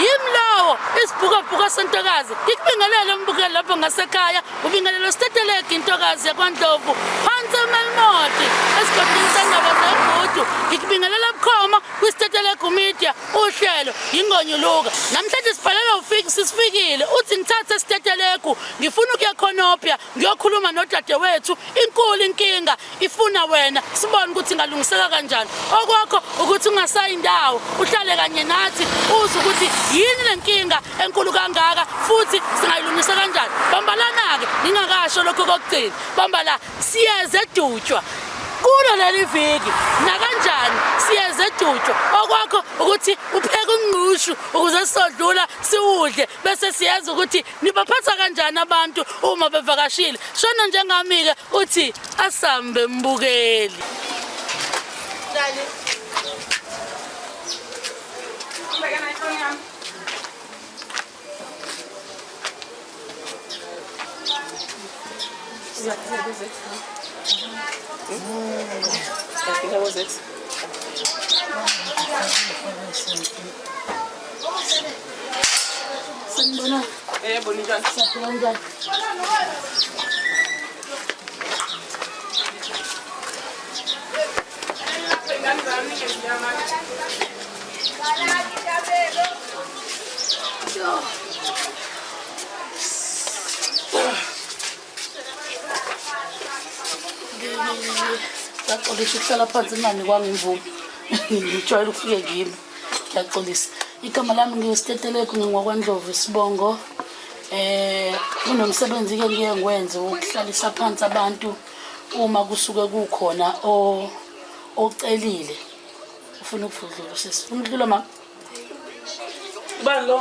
yimi lowo isibhukabhuka sentokazi ngikubingelele umbukeli lapho ngasekhaya ubingelele usitetelegi intokazi yakwandlovu phansi emelimoti esigodini sendaba zegudu ngikubingelela bukhoma kwisitetelegu media uhlelo yingonyuluka namhlanje sibhalela ufiki sisifikile uthi ngithathe esitetelegu ngifuna ukuya khonopya ngiyokhuluma nodadewethu inkulu inkinga ifuna wena sibone ukuthi ingalungiseka kanjani okwakho ukuthi ungasayi indawo uhlale kanye nathi uze ukuthi yini le nkinga enkulu kangaka futhi singayilungisa kanjani bambalana-ke ngingakasho lokho kokugcina bambala siyeze edutshwa kulo leli viki nakanjani siyeze edutshwa okwakho ukuthi upheke ungqushu ukuze sizodlula siwudle bese siyenza ukuthi Nibaphatha kanjani abantu uma bevakashile? Shona njengami-ke uthi asambe mbukeli. How was it? Sanibona. Eh, bonita. Sanibona. Ngaxolisa ukuhlala phansi nginganikwanga imvume. Ngijwayele ukufike kimi. ngiyaxolisa igama lami ngiwusitetelegu ngingokwandlovu isibongo eh kunomsebenzi ke ngiye ngwenze ukuhlalisa phansi abantu uma kusuke kukhona ocelile ufuna ukuvudlula usisi umdlulo ma ubani lo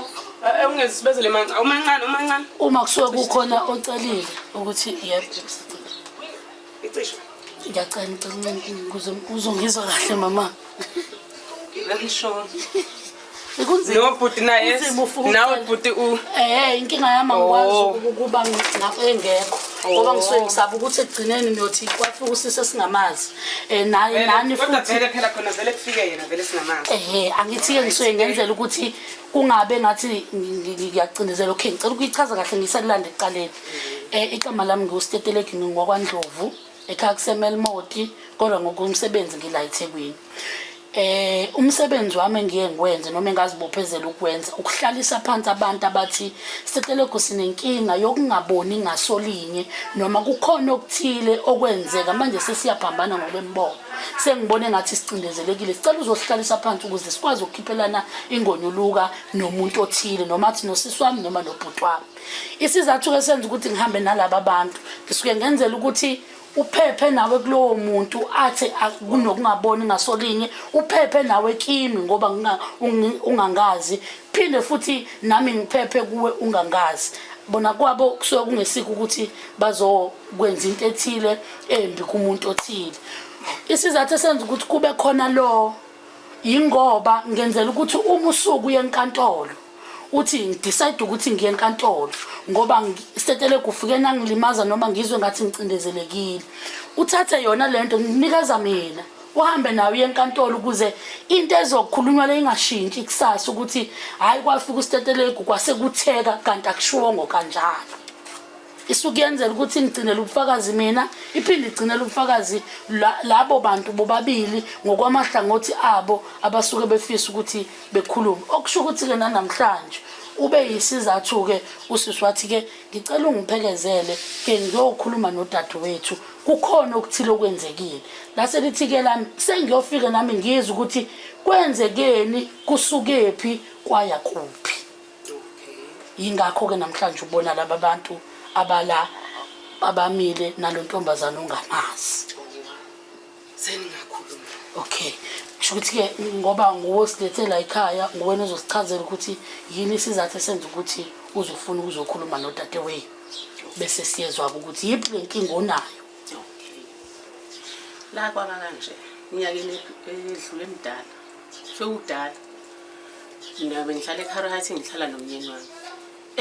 ewungezibezele eh, eh, mancane umancane umancane uma kusuke kukhona ocelile ukuthi yebo Icisho. Ngiyacela ngicela ukuze uzongizwa kahle mama. Very sure. Ikunzima. No bhuti naye. Nawe bhuti u. Eh inkinga yami angikwazi oh. ukuba ngapha engekho. ngoba oh. ngisuke ngisaba ukuthi ekugcineni niyothi kwafika usisi esingamazi um naye nani futhi vele phela khona vele kufike yena vele singamazi ehe angithi-ke ngisuke ngenzela ukuthi kungabe ngathi ngiyacindezela okay ngicela ukuyichaza kahle ngisalilanda ekuqaleni um igama lami ngiwustetelegi ngingokwandlovu ekhaya kusemelmoti kodwa ngokumsebenzi ngila ethekwini eh umsebenzi wami engiye ngikwenze noma engazibophezela ukwenza ukuhlalisa phansi abantu abathi siceleku sinenkinga yokungaboni ngasolinye noma kukhona okuthile okwenzeka manje sesiyaphambana ngokwembono sengibona engathi sicindezelekile sicela uzohlalisa phansi ukuze sikwazi ukukhiphelana ingonyuluka nomuntu othile noma athi nosisi wami noma nobhuti wami isizathu-ke senza ukuthi ngihambe nalaba bantu ngisuke ngenzela ukuthi uphephe nawe kulowo muntu athi kunokungaboni ngasolinye uphephe nawe kimi ngoba ungangazi phinde futhi nami ngiphephe kuwe ungangazi bona kwabo kusuke kungesikho ukuthi bazo kwenza into ethile embi kumuntu othile isizathu esenza ukuthi kube khona lo yingoba ngenzela ukuthi uma usuku uye enkantolo uthi ngidecide ukuthi ngiye enkantolo ngoba isetele kufike nangilimaza noma ngizwe ngathi ngicindezelekile uthathe yona le nto nginikeza mina uhambe nawe uye enkantolo ukuze into ezokhulunywa le ingashintshi kusasa ukuthi hhayi kwafika usitetelegu kwasekutheka kanti akushiwongo kanjalo isukuyenzela ukuthi ngigcinele ubufakazi mina iphinde igcinele ubufakazi labo bantu bobabili ngokwamahlangothi abo abasuke befisa ukuthi bekhulume okusho ukuthi-ke nanamhlanje ube yisizathu-ke usisi wathi-ke ngicela ungiphekezele ke ngiyokhuluma nodadewethu kukhona okuthile okwenzekile lase lithi-ke lami sengiyofike nami ngizwe ukuthi kwenzekeni kusukephi kwaya kuphi yingakho-ke namhlanje ubona laba bantu abala abamile nalo ntombazane ongamazi seningakhuluma okay kusho ukuthi-ke ngoba nguwe osilethela ekhaya nguwena ozosichazela ukuthi yini isizathu esenza ukuthi uzofuna ukuzokhuluma nodadewenu bese siyezwa-ke ukuthi yiphi le nkinga onayo la kwaba kanje minyakeni edlule emdala sewudala mina bengihlala ekhara hathi ngihlala nomyeni wami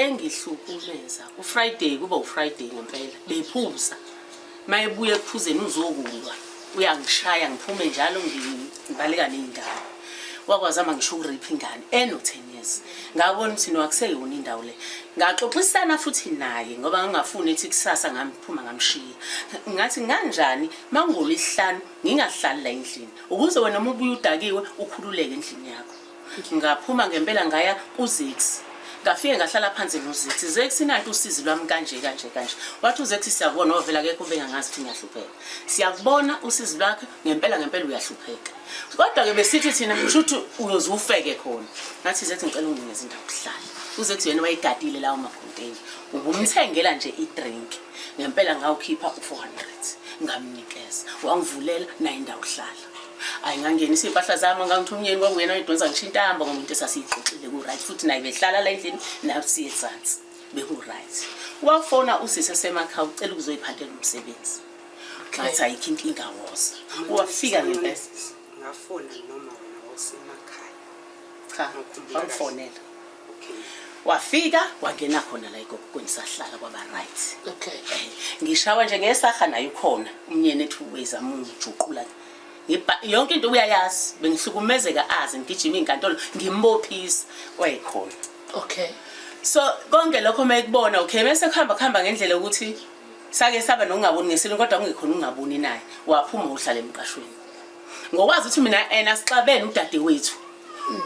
engihlukumeza ufriday kuba ufriday ngempela bephuza uma ebuya ekuphuzeni uzokulwa uyangishaya ngiphume njalo ngibaleka ney'ndawo wakwazama ngisho ukuripha ingane eno-ten years ngabona ukuthi nowakuseyona indawo le ngaxoxisana futhi naye ngoba ngangafuni ethi kusasa ngamphuma ngamshiya ngathi nganjani mangolo isihlanu ngingahlali la endlini ukuze wena uma ubuye udakiwe ukhululeke endlini yakho ngaphuma ngempela ngaya kuzex ngafike ngahlala phansi nozex zex nanti usizi lwami kanje kanje kanje wathi uzex siyakubona ovela kekho ubengangazi ukuthi ngiyahlupheka siyakubona usizi lwakhe ngempela ngempela uyahlupheka kodwa-ke besithi thina kusho ukuthi uyoze ufeke khona ngathi zex ngicela unginikeza indawo kuhlala uzex yena wayegadile lawo makhonteyini ubumthengela nje idrink ngempela ngawukhipha u-400 ngamnikeza wangivulela naye indawo hlala ayi ngangenisa iy'mpahla zami ngangithi umyeni kwakuyena oyidonsa ngisho intamba ngomuntu esasiyixoxile ku-right futhi naye behlala la endlini nasiye ezansi beku-right wafona usisi esemakhaya ucela ukuzoyiphathela umsebenzi ngathi ayikho inkinga woza wafika ngempela Ngafona noma wena wawusemakhaya. Cha, wamfonela. Okay. Wafika wangena khona la igogo kweni sahlala kwaba right. Okay. Eh, ngishawa nje ngesaha naye ukhona umnyeni ethi uweza mungijuqula. Ngiba yonke into uyayazi bengihlukumezeka azi ngigijima inkantolo ngimbophisa wayekhona. Okay. So konke lokho mayikubona okay bese kuhamba kuhamba ngendlela ukuthi sake saba nokungaboni ngesilungu kodwa kungekhona ungaboni naye waphuma uhlala emqashweni ngokwazi ukuthi mina ena sixabene udadewethu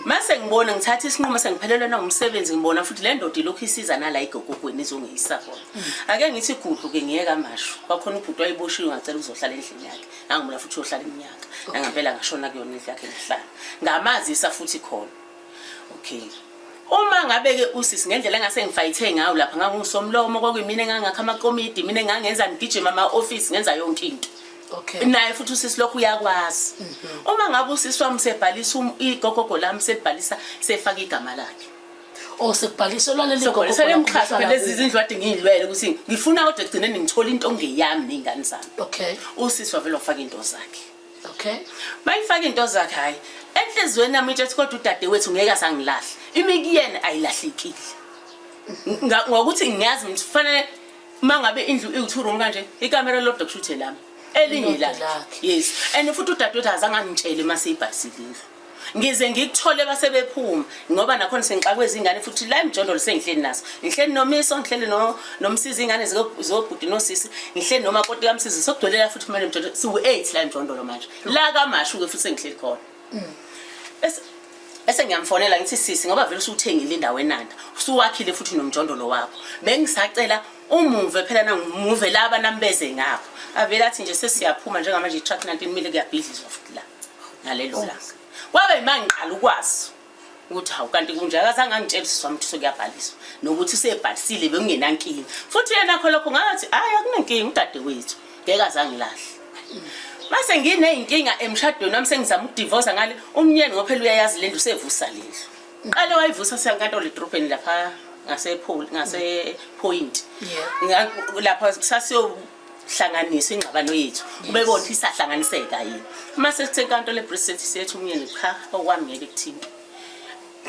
mase ngibona ngithatha isinqumo sengiphelelwe nangumsebenzi ngibona futhi le ndoda ilokhu isiza nala igogogweni izongiyisa khona ake ngithi gudlu ke ngiyeka amasho kwakhona ubhuti wayiboshiwe ngacela ukuzohlala endlini yakhe nangibona futhi uyohlala iminyaka nangampela ngashona kuyona indlu yakhe ngihlala ngamazisa futhi khona okay uma ngabe ke usisi ngendlela engase ngifayithe ngayo lapha ngangusomlomo kwakuyimina engangakha amakomidi mina engangenza ngigijima ama office ngenza yonke into Okay. Naye futhi usisi lokhu uyakwazi. Mhm. Uma ngabe usisi wami sebhalisa um, igogogo lami sebhalisa sefaka igama lakhe. Oh sekubhalisa lwaleli gogogo. Sekubhalisa lemxhaso lezi izindlu ade ngiyilwele ukuthi ngifuna kodwa egcine ngithola into ngeyami nezingane zami. Okay. Usisi wavela wafaka into zakhe. okay mayifaka into zakhe hayi enhlizweni yami itshethi kodwa udade wethu ngeke asangilahle imi kuyena ayilahlekile ngokuthi ngiyazi ngithi kufanele uma ngabe indlu iwu-two room kanje ikamera lodwa kushuthe lami elinye lakhe yes and futhi udade wethu azange angitshele uma seyibhalisile indlu ngize ngikuthole base bephuma ngoba nakhona sengixakwe izingane futhi la emjondolo sengihleli nazo ngihleli nomiso ngihleli no nomsizi ingane zobhuti nosisi ngihleli noma koti kamsizi sokugcwelela futhi kumele emjondolo siwu 8 la emjondolo manje la kamashu ke futhi sengihleli khona mm. bese bese ngiyamfonela ngithi sisi ngoba vele usuthengile indawo enanda usuwakhile futhi nomjondolo wakho bengisacela umuve phela nangimuve laba nambeze ngapho avele athi nje sesiyaphuma njengamanje i-truck 19 mile kuyabhidlizwa futhi la ngalelo oh. langa kwabe yima ngiqala ukwazi ukuthi hawu kanti kunjakazange angitshelisiswa mthi sokuyabhaliswa nokuthi usebhalisile bekungenankinga futhi yena kho lokho ngathi hhayi akunankinga udade wethu ngeke azangilahle mase nginey'nkinga emshadweni wami sengizama ukudivosa ngale umnyeni ngophela uyayazi le ndlu usevusa le ndlu qale wayivusa senkantolo edrobheni lapha ngasephoyinti lapha sasiyo hlanganiso ingxabano yethu ubebona ukuthi isahlanganiseka yini uma sekusenkantolo ebriset sethu umyeni cha okwami ngeke kuthini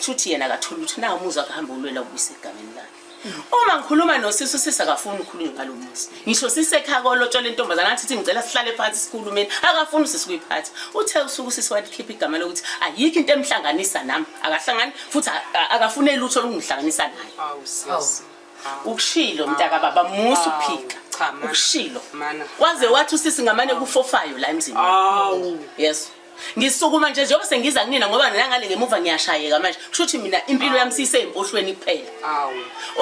shuthi yena akatholi ukuthi nawo umuzi akuhamba ulwela ukubuyisa egameni lakhe uma ngikhuluma nosisi usisi akafuni ukhulume ngalo muzi ngisho sisekhaya kolotshola intombazana athi ngicela sihlale phansi sikhulumeni akafuni usisi kuyiphatha uthe usuku usisi walikhipha igama lokuthi ayikho into emhlanganisa nami akahlangani futhi akafune lutho olungihlanganisa naye ukushilo mntaka baba musa uphika Cha, ma. ukushilo Mana. waze wathi usisi ngamane kufofayo la emzini Awu. yes ngisukuma nje njengoba sengiza kunina ngoba nangale ngemuva ngiyashayeka manje kusho ukuthi mina impilo yami siyiseyimpohlweni kuphela Awu.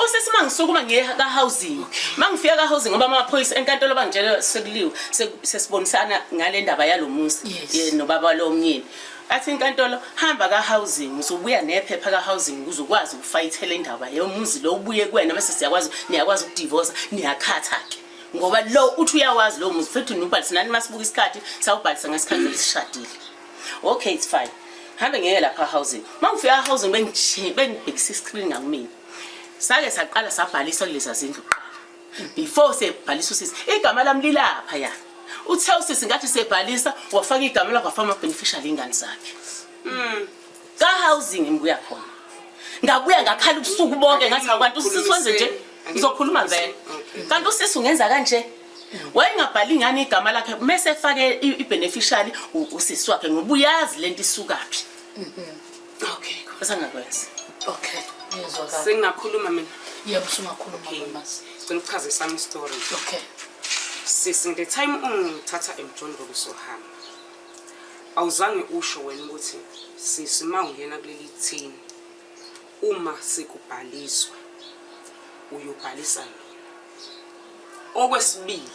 usisi uma ngisukuma ngiye ka-housing uma ngifika ka-housing ngoba amaphoyisa enkantolo bangitshele sekuliwe se- sesibonisana ngale ndaba yalo muzi Yes. ye- nobaba lomnyeni Athi inkantolo hamba ka housing uzobuya nephepha ka housing ukuze ukwazi ukufayithela indaba leyo muzi lo ubuye kuwena bese siyakwazi niyakwazi ukudivorce niyakhatha ke ngoba lo uthi uyawazi lo muzi futhi nubhalisa nani masibuka isikhathi sawubhalisa ngesikhathi lesishadile okay it's fine hambe ngeke lapha housing mangifika housing bengijhe bengibhekisa iscreen ngakumina sake saqala sabhalisa kulezi zindlu before sebhalisa usisi igama lami lilapha ya uthe usisi ngathi sebhalisa wafaka igama lakho wafaka ama-beneficial ingane zakhe mm. ka-housing ngibuya khona ngabuya ngakhala ubusuku bonke ngathi akwanti usisi wenze nje ngizokhuluma vele kanti usisi ungenza kanje wayengabhali ingane igama lakhe mese efake i-beneficial usisi wakhe ngoba uyazi le nto isukaphi mm-hmm. Okay, kwasa ngakwenza. Okay, ngiyezwakala. Sengingakhuluma mina. Yebo, usungakhuluma mama. Ngicela ukuchaza isami story. Okay. Sisi ngithe time ungithatha emjondolo sohamba. Awuzange usho wena ukuthi sisi ma ungena kuleli thini uma sikubhaliswa uyobhalisa mina. Okwesibili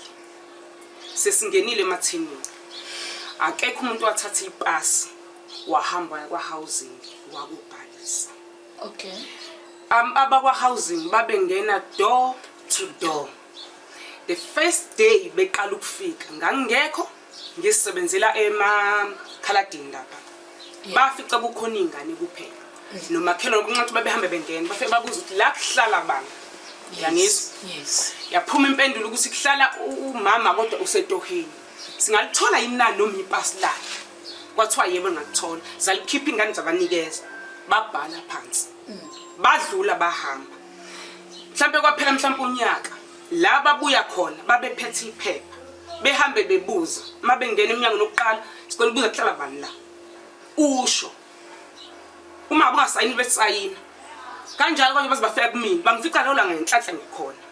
sesingenile emathinini. Akekho umuntu wathatha ipasi wahamba waya kwa-housing wakubhalisa okay um, abakwa-housing babengena door to door the first day beqala ukufika ngangingekho ngisebenzela emakhaladini lapha bafica kukhona iy'ngane kuphela mm. nomakhelwane kuncathi babehambe bengena bafike babuza ukuthi la kuhlala bani yangizwa yaphuma impendulo ukuthi kuhlala umama kodwa usetoheni singalithola yini na noma ipasi lakhe kwathiwa yebo ngakuthola zalikhipha ingane zabanikeza babhala phansi badlula bahamba mhlambe kwaphela mhlambe unyaka la babuya khona babephethe iphepha behambe bebuza uma bengena emnyango nokuqala sicela ubuza kuhlala bani la usho uma kungasayini besayina kanjalo abanye baze bafika kumina bangifica lola ngenhlanhla ngikhona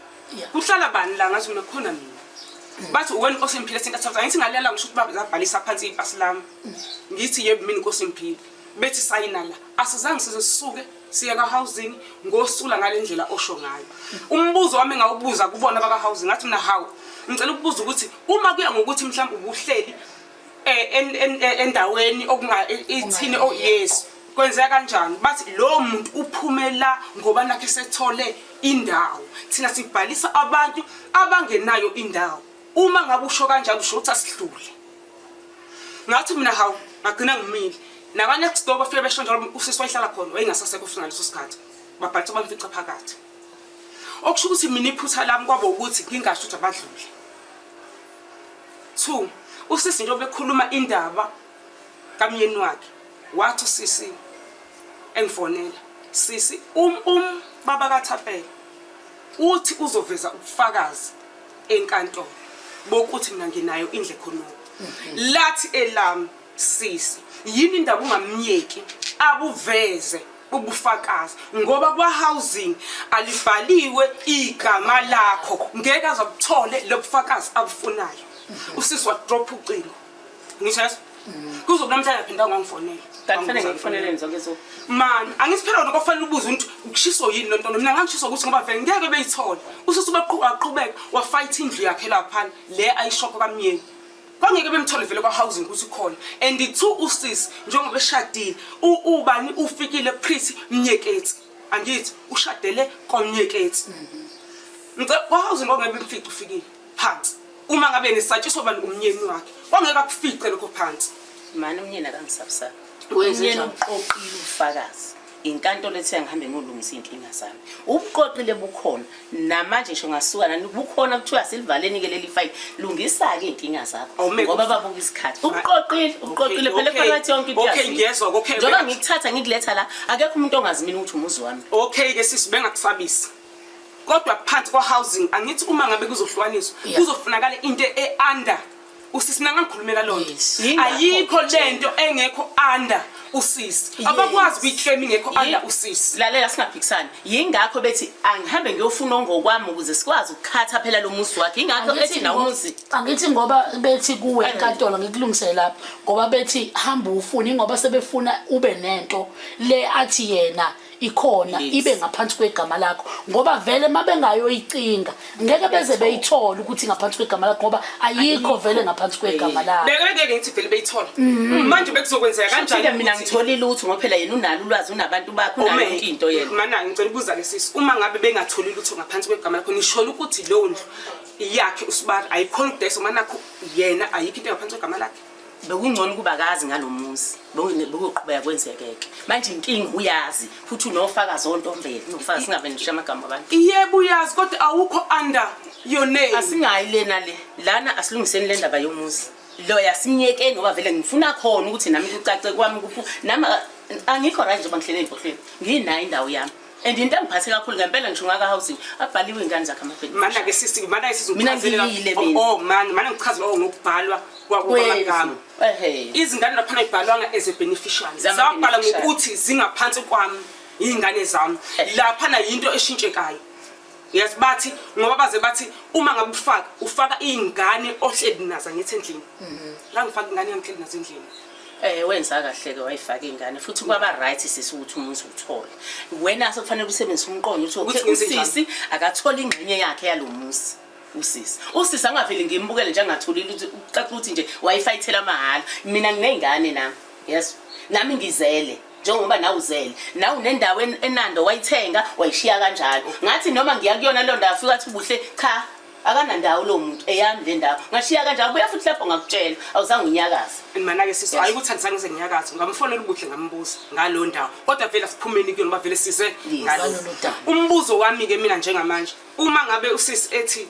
kuhlala bani la ngathi mina khona mina mm. bathi uwena inkosi imphile sinta thola ngithi ngalela ngisho ukuthi babhalisa phansi ipasi lami mm. ngithi yebo mina inkosi imphile bethi sayina la asizange size sisuke siye ka-housing ngosula ngale ndlela osho ngayo umbuzo wami ngawubuza kubona baka-housing ngathi mina hawu ngicela ukubuza ukuthi uma kuya ngokuthi mhlawumbe ubuhleli eh, endaweni ithini oh, yes kwenzeka kanjani bathi lowo muntu uphumela ngoba nakhe sethole indawo thina sibhalisa abantu abangenayo indawo uma ngabe usho kanjalo usho ukuthi asidlule ngathi mina hawu ngagcina ngimile nakanext door bafike besho njalo usisi wayihlala khona wayengasasekho futhi ngaleso sikhathi babhalisa bamfica phakathi okusho ukuthi mina iphutha lami kwabo ukuthi ngingasho ukuthi abadlule Two, usisi nje obekhuluma indaba kamyeni wakhe wathi usisi engifonela sisi um um baba kathapela uthi uzoveza ubufakazi enkantolo bokuthi mina nginayo indle khonoko lathi elami Sisi yini indaba ungamyeki abuveze ubufakazi ngoba kwa housing alibhaliwe igama lakho ngeke azakuthole lobufakazi abufunayo usisi wa drop ucingo ngisho kuzokuba namhlanje aphinda ngongifonela kanti fanele ngikufonele nje ngezo man angisiphela lokho kufanele ubuze ukuthi ukushiso yini lonto mina ngangishiso ukuthi ngoba vele ngeke beyithola usisi ubaqhubeka wafight indlu yakhe lapha le ayishoko kamyeni kwangeke bemthole vele kwa-housing ukuthi ukhona and two usisi njengoba eshadile ubani ufikile prithi mnyeketsi angithi ushadele kwamnyeketsi mhm. kwa-housing kwangeke bemfice ufikile phansi uma ngabe nisatshiswa bani umnyeni wakhe kwangeke akufice lokho phansi mani umnyeni akangisabusaba umnyeni uqoqile ubufakazi inkantolo ethe ngihambe ngolungisa izinkinga zami ubuqoqile bukhona namanje ngisho ngasuka nani bukhona kuthiwa silivaleni ke leli file lungisa ke izinkinga zakho ngoba babuka isikhathi ubuqoqile ubuqoqile phela phakathi yonke into okay ngiyezwa okay njengoba ngikuthatha ngikuletha la akekho umuntu ongazimini ukuthi umuzi wami okay ke sisi bengakusabisi kodwa phansi kwa housing angithi uma ngabe kuzohlukaniswa kuzofunakala into e under usisi mina ngangikhulumela loo nto Yes. Yingakho ayikho le ngitshela. nto engekho under usisi Yes. abakwazi ukuyiklema ingekho Yi- under usisi lalela singaphikisani yingakho bethi angihambe ngiyofuna ongokwami ukuze sikwazi ukukhatha phela lo muzi wakhe yingakho Angithi ethi nawo ngo- umuzi angithi ngoba bethi kuwe Ayini. enkantolo ngikulungisele lapha ngoba bethi hamba ufune ingoba sebefuna ube nento le athi yena ikhona Yes. ibe ngaphansi kwegama lakho ngoba vele uma bengayoyicinga ngeke beze beyithole ukuthi ngaphansi kwegama lakho ngoba ayikho vele ngaphansi kwegama lakho Beke bengeke ngithi vele beyithola. Manje bekuzokwenzeka Kanjani kanjani? mina ukuthi- ngithole lutho ngoba phela yena unalo ulwazi unabantu bakhe unayo Ume, yonke into yena. Mana ngicela ukubuza ke sisi uma ngabe bengatholi lutho ngaphansi kwegama lakho nisholo ukuthi leyo ndlu iyakhe usibari ayikhona ukudayisa uma nakho yena ayikho into engaphansi kwegama lakhe. bekungcono ukuba kazi ngalomuzi bokuqhubeka kwenzekeke manje inkinga uyazi futhi unofakazi ontombele unofakazi singabe nishiya amagama abantu yebo uyazi kodwa awukho under your name asingayi lena le lana asilungiseni le ndaba yomuzi loya simyekeni ngoba vele ngifuna khona ukuthi nami kucace kwami kuphu nami angikho right njengoba ngihlele ey'mpohlweni nginayo indawo yami and into engiphathe kakhulu ngempela ngisho ngaka housing abhaliwe ingane zakhe amabhedi mana ke sisi mana isizochazela oh, oh man mana ngichazela oh, ngokubhalwa kwamagama izingane lapha ayibhalwanga as a beneficiary zabhala ngokuthi zingaphansi kwami izingane zami lapha na yinto eshintshekayo yes bathi ngoba baze bathi uma ngabe ufaka ufaka izingane ohleli nazo ngithi endlini mhm. la ngifaka ingane yami endlini nazo endlini Eh wenza kahle ke wayifaka ingane futhi kwaba right sisi ukuthi umuzi uthole. Wena sokufanele usebenzise umqondo uthi Ukuthi okay ngenze njani? usisi akathola ingxenye yakhe yalomuzi. Usisi. Usisi angaveli ngimbukele nje angatholile ukuthi ucaca ukuthi nje wayifayithela amahhala. Mina nginengane nami. Yes. Nami ngizele. Njengoba nawe uzele. Nawe unendawo en- enando wayithenga wayishiya kanjalo. Ngathi noma ngiya kuyona londa afika athi ubuhle cha akanandawo lowo muntu eyami le ndawo ngashiya kanje abuya futhi lapho ngakutshela awuzange unyakaze and mana-ke sisi hhayi ukuthi andizange ze nginyakaze ngamfonela ubuhle ngambuza ngalo ndawo kodwa vele asiphumeni kuyona uba vele size ngalo umbuzo wami-ke mina njengamanje uma ngabe usisi ethi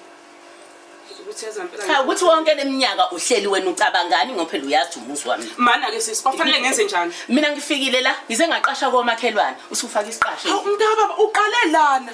cha ukuthi wonke leminyaka uhleli wena ucabangani ngoba phela uyazi umuzi wami mana ke sisi kwafanele ngenze njani mina ngifikile la ngize ngaqasha komakhelwane usufaka isiqasho umntu kababa uqale lana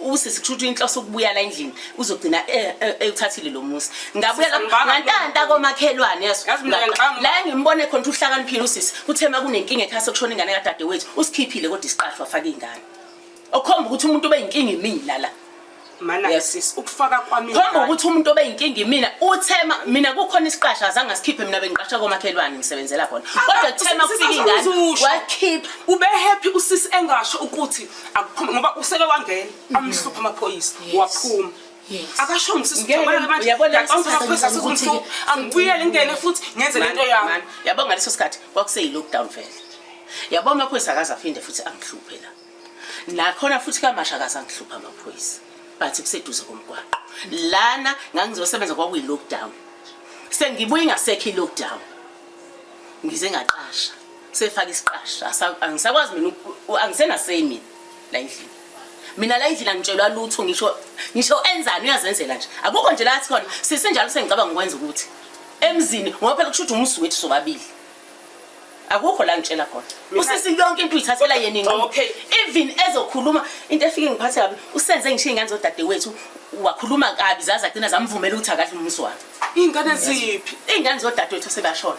usisi kusho ukuthi inhloso ukubuya la endlini uzogcina eh, eh, ewuthathile lo muzi ngabuya la ngantanta komakhelwane yeso la ngimbone khona ukuthi uhlakaniphile usisi uthema kunenkinga ekhaya sokushona ingane kadade wethu usikhiphile kodwa isiqashwa afake ingane okhomba ukuthi umuntu obeyinkinga imina la mana yes. sis ukufaka kwami khomba ukuthi umuntu obeyinkinga imina uthema mina kukhona isiqasha azange sikhiphe mina bengiqasha komakhelwane ngisebenzela khona ah, kodwa kuthema kufika ingane wakhipha ube happy usisi engasho ukuthi akuphume ngoba useke wangena amhlupha amaphoyisa waphuma akasho ngisisiyabonaaangibuye ngingene futhi ngenze lento yami yabo ngaleso sikhathi kwakuseyi-lockdown vele yabo amaphoyisa akaze aphinde futhi angihluphe la nakhona futhi kamasha akaze angihluphe amaphoyisa but kuseduze komgwaqo lana ngangizosebenza kwakuyi-lockdown sengibuye ingasekho i-lockdown ngize ngaqasha sefaka isiqasha angisakwazi mina angisenasei mina la endlini mina la endlini angitshelwa lutho ngisho ngisho enzani uyazenzela nje akukho nje lathi khona sisenjalo sengicabanga ukwenza ukuthi emzini ngoba phela kusho ukuthi umusi wethu sobabili akukho la ngitshela khona usisi yonke into uyithathela yena inqomo even ezokhuluma into efike ngiphathe kabi usenze ngisho iy'ngane zodadewethu wakhuluma kabi zaze agcina zamvumela ukuthi akadli umusi wakhe iy'ngane ziphi iy'ngane zodadewethu sebashona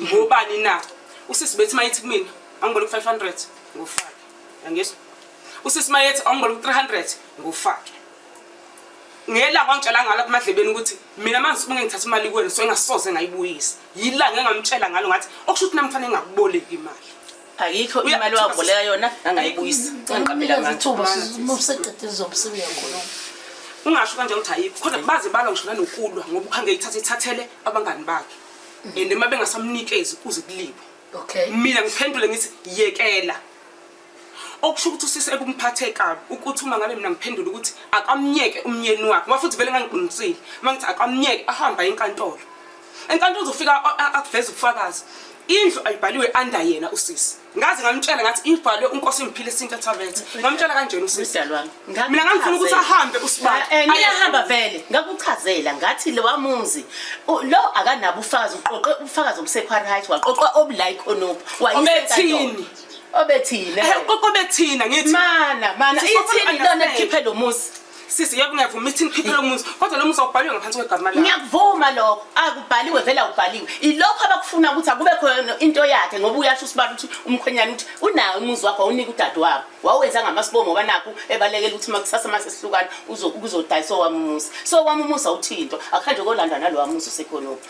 ngobani na usisi bethi mayithi kumina angibona ku-500 ngufake angizwa usisi mayethi angibona ku-300 ngufake ngelanga wangitshela ngalo kumadlebeni ukuthi mina manje uma ngithatha imali kuwena so engasoze ngayibuyisa yilanga engamtshela ngalo ngathi okusho ukuthi nami fanele ngakuboleki imali ayikho imali wakuboleka yona angayibuyisa ngiqaphela ngathi useqede izomsebenzi yakhona ungasho kanje ukuthi ayikho kodwa baze balwa ngisho nanokulwa ngoba ukhange ithathe ithathele abangani bakhe and uma bengasamnikezi kuze kulibo okay mina ngiphendule ngithi yekela okusho ukuthi usisi ekumphathe kabi ukuthi uma ngabe mina ngiphendula ukuthi akamnyeke umnyeni wakhe ngoba futhi vele ngangiqinisile uma ngithi akamnyeke ahamba enkantolo enkantolo uzofika akuveza ubufakazi indlu ayibhaliwe under yena usisi ngaze ngamtshela ngathi ibhalwe unkosi ngiphile isinto ethavethe ngamtshela kanjena usisi mina ngangifuna ukuthi ahambe usibani eh, eh, ayahamba vele ngakuchazela ngathi lo wamuzi lo akanabo ufakazi uqoqe ubufakazi obusekhwari height waqoqa obulike onop wayisethini obethina eh, uqoqo bethina ngithi mana mana ithini lona likhiphe lo muzi sisi yebo ngiyavuma ithi ngikhiphe lo muzi kodwa lo muzi awubhaliwe ngaphansi kwegama lakho ngiyakuvuma lokho akubhaliwe vele awubhaliwe ilokho abakufuna ukuthi akube khona into yakhe ngoba uyasho usibala ukuthi umkhwenyana ukuthi unawo umuzi wakho awunike udade wabo wawenza ngamasibomo banakho ebalekela ukuthi uma kusasa uma sesihlukana uzodayisa owami umuzi so owami umuzi awuthinto akuhanje kolanda nalowa muzi usekhonophi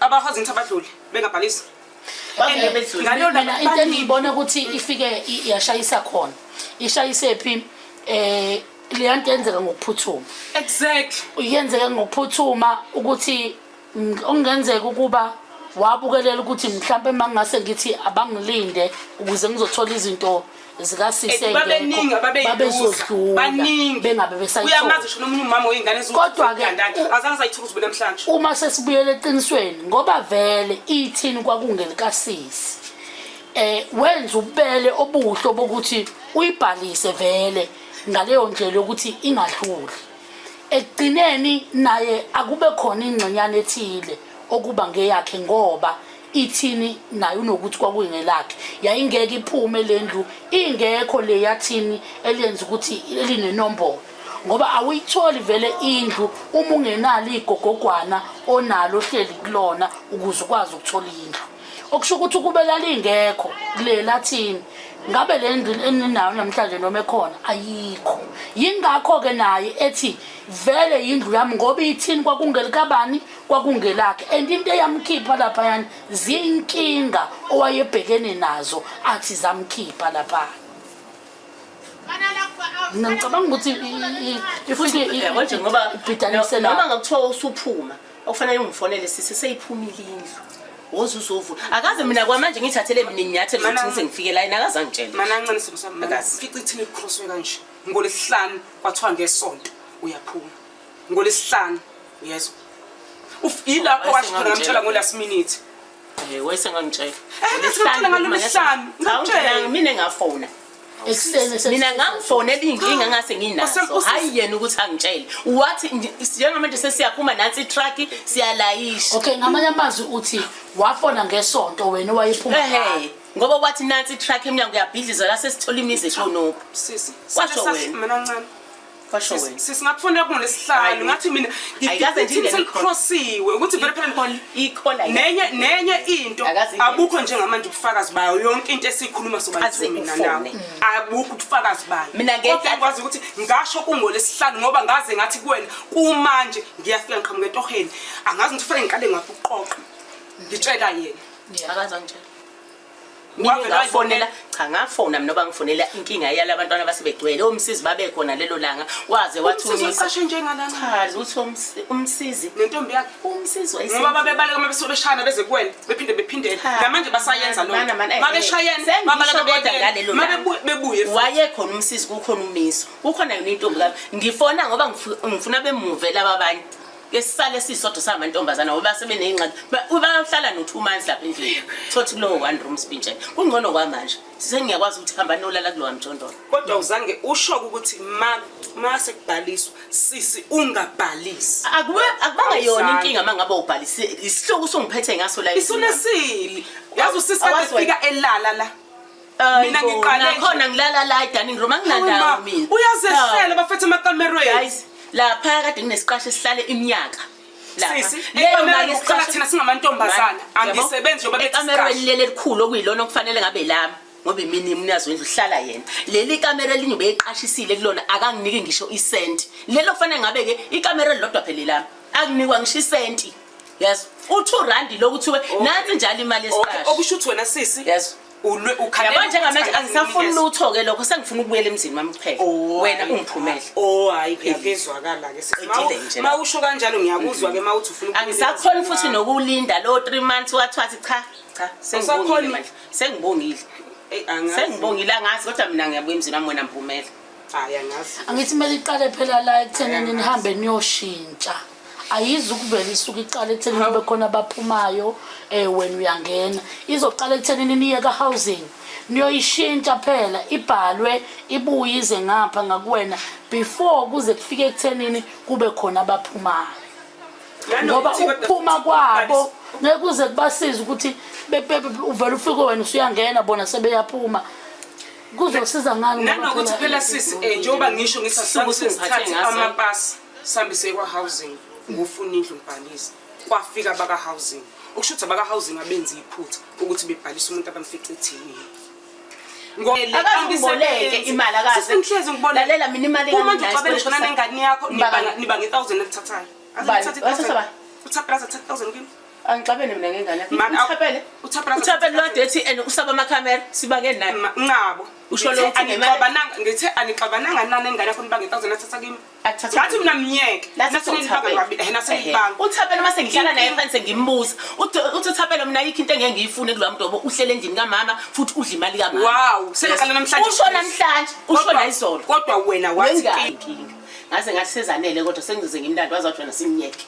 abakwazi ukuthi abadlule bengabhalisi into engiyibona ukuthi ifike yashayisa khona ishayisephi um eh, leya nto yenzeka ngokuphuthuma exactly yenzeka ngokuphuthuma ukuthi okungenzeka ukuba wabukelela ukuthi mhlawumbe uma ngingase ngithi abangilinde ukuze ngizothola izinto babeningi ababeyiubaningibengabe besayuyamazi sho nomunye umama weyingane kodwa-ke azange sayithola uzube namhlanje uma sesibuyela eqinisweni ngoba vele ithini kwakungelikasisi eh wenza ubele obuhlo bokuthi uyibhalise vele ngaleyo ndlela yokuthi ingadluli ekugcineni naye akube khona ingxenyana ethile okuba ngeyakhe ngoba ithini naye unokuthi kwakungelakhe yayingeke iphume le ndlu ingekho le yathini eliyenza ukuthi elinenombolo ngoba awuyitholi vele indlu uma ungenalo igogogwana onalo ohleli kulona ukuze ukwazi ukuthola indlu okusho ukuthi ukube lalingekho kule lathini ngabe le ndlu eninayo namhlanje noma ekhona ayikho yingakho-ke naye ethi vele yindlu yami ngoba ithini kwakungelikabani kwakungelakhe and into eyamkhipha lapha yani zinkinga owayebhekene nazo athi zamkhipha lapha mina ngicabanga ukuthi futhi ngoba ibhidanisela noma ngakuthiwa usuphuma okufanele ungifonele sisi seyiphumile indlu woze uzovula akaze mina kwamanje ngithathele mina inyathelo ukuthi ngize ngifike la yena akaze angitshele mana ancane simo sami fica ithini likhoswe kanje ngolesihlanu kwathiwa ngesonto uyaphuma ngolesihlanu yezwa yilapho washo khona ngamtshela ngo-last minute eh, wayesengangitshela eh, mina ngafona mina ngamfonela iy'nkinga ngase nginazo hhayi yena ukuthi angitshele wathi njengamanje sesiyaphuma nansi itruck siyalayisha okay ngamanye amazwi uthi wafona ngesonto wena wayephuma ngoba wathi nansi itruck emnyango uyabhidliza la sesithola imizi eshonophi kwasho wena kwasho wena sisingakufunda kuno lesihlanu ngathi mina ngiselikhrosiwe ukuthi vele phela nenye nenye into abukho njengamanje ubufakazi bayo yonke into esiyikhuluma sobathumina nawo mm. abukho ubufakazi bayo mina ngikwazi ukuthi ngasho kungolesihlanu ngoba ngaze ngathi kuwena kumanje ngiyafika ngiqhamuka etoheni angazi ukuthi fanele ngiqale ngakuqoqa ngitshela yena akaza ngitshela mina ngafonela cha ngafona mina oba ngifonela inkinga yala abantwana basebegcwele omsizi babekhona lelo langa waze wathumisa chazi uthi umsizi nentombi yakhe umsizi ngoba babebaleka uma besuke beshayana beze kuwena bephinde bephindele namanje basayenza lo mabeshayana babebuye wayekhona umsizi kukhona umiso kukhona yona intombi kabi ngifona ngoba ngifuna bemuve laba abanye ke sisale sisodwa samantombazana ngoba sebeneyingxaki bayohlala no-two months lapha endlini thothi kulowo one room spintshele kungcono kwamanje sisengiyakwazi ukuthi hamba nolala kulowa mjondolo kodwa uzange ushoke ukuthi ma ma sekubhaliswa sisi ungabhalisi akube akubanga yona inkinga mangabe ubhalise isihloko usungiphethe ngaso la isunasili yazi usisi kade fika elala la mina ngiqalekhona ngilala la edining room anginandawo mina uyazehlela bafethe amakamerweni guys lapha kade nginesiqasho esihlale iminyaka thina singamantombazana angisebenzi njengoba bethikamerweni leli elikhulu okuyilona okufanele ngabe lami ngoba imini imnyazi wendlu uhlala yena leli kamera elinye beyiqashisile kulona akanginiki ngisho isenti lelo kufanele ngabe-ke ikamera elilodwa phela lami akunikwa ngisho isenti yes u-two randi lokuthiwe oh. nansi njalo imali yesiqasho okusho ukuthi wena sisi yes yabo njengamanje angisafuni lutho-ke lokho sengifuna ukubuyela emzini wami kuphela oh, wena ungiphumele o hhayi phezwakala-kema usho kanjalo ngiyakuzwa-ke ma uthi ufuna angisakhoni futhi nokulinda lowo three months wathiwathi cha cha sengibongile manje sengibongile sengibongile angazi kodwa mina ngiyabuya emzini wami wena mphumela hayi angazi angithi kumele iqale phela la ekuthenini nihambe niyoshintsha ayizi ukuvela isuke iqala ekuthenini kube khona abaphumayo um wena uyangena izoqala ekuthenini niye ka-housing niyoyishintsha phela ibhalwe ibuye ize ngapha ngakuwena before kuze kufike ekuthenini kube khona abaphumayo ngoba ukuphuma kwabo ngeke uze kubasize ukuthi uvele ufike wena usuyangena bona sebeyaphuma kuzosiza ngani nanokuthi phela sisi eh, njengoba ngisho ngisasuku sesithathe amapasi sambe sekwa housing ngofuna indlu ngibhalisa kwafika baka housing ukusho ukuthi abaka housing abenza iphutha ukuthi bebhalisa umuntu abamfice ethini akaziboleke imali akazelalela mina imali uma nje ucabela shona nengane yakho niba nge-thousand elithathayo uthatha 3000 kimi Angixabene mina ngengane yakhe. Man, aw- Uthapele. uThapela- Uthapele lodwa ethi and usaba amakhamera sibange naye. Ma- nqabo Usho Ngithe lokhu ngemali- anixabananga- ngithe anixabananga nani engane yakho nibanga i-thousand athatha kimi Athathe ngathi mina myeke Lathi nasenilibanga uThapelo. ngabili- eh, Ehhe. nasenilibanga uthapela uma sengihlala naye phansi ngimbuza uthi uthapela mina ayikho into engeke ngiyifune kulowa mntobo uhlele endlini kamama futhi udla imali kamama Wow, sengaqala namhlanje. usho namhlanje usho Kodwa- nayizolo kodwa wena wathi Wengane. inkinga ngaze ngathi sezanele kodwa sengize ngimlanda wazi wathi wena simnyeke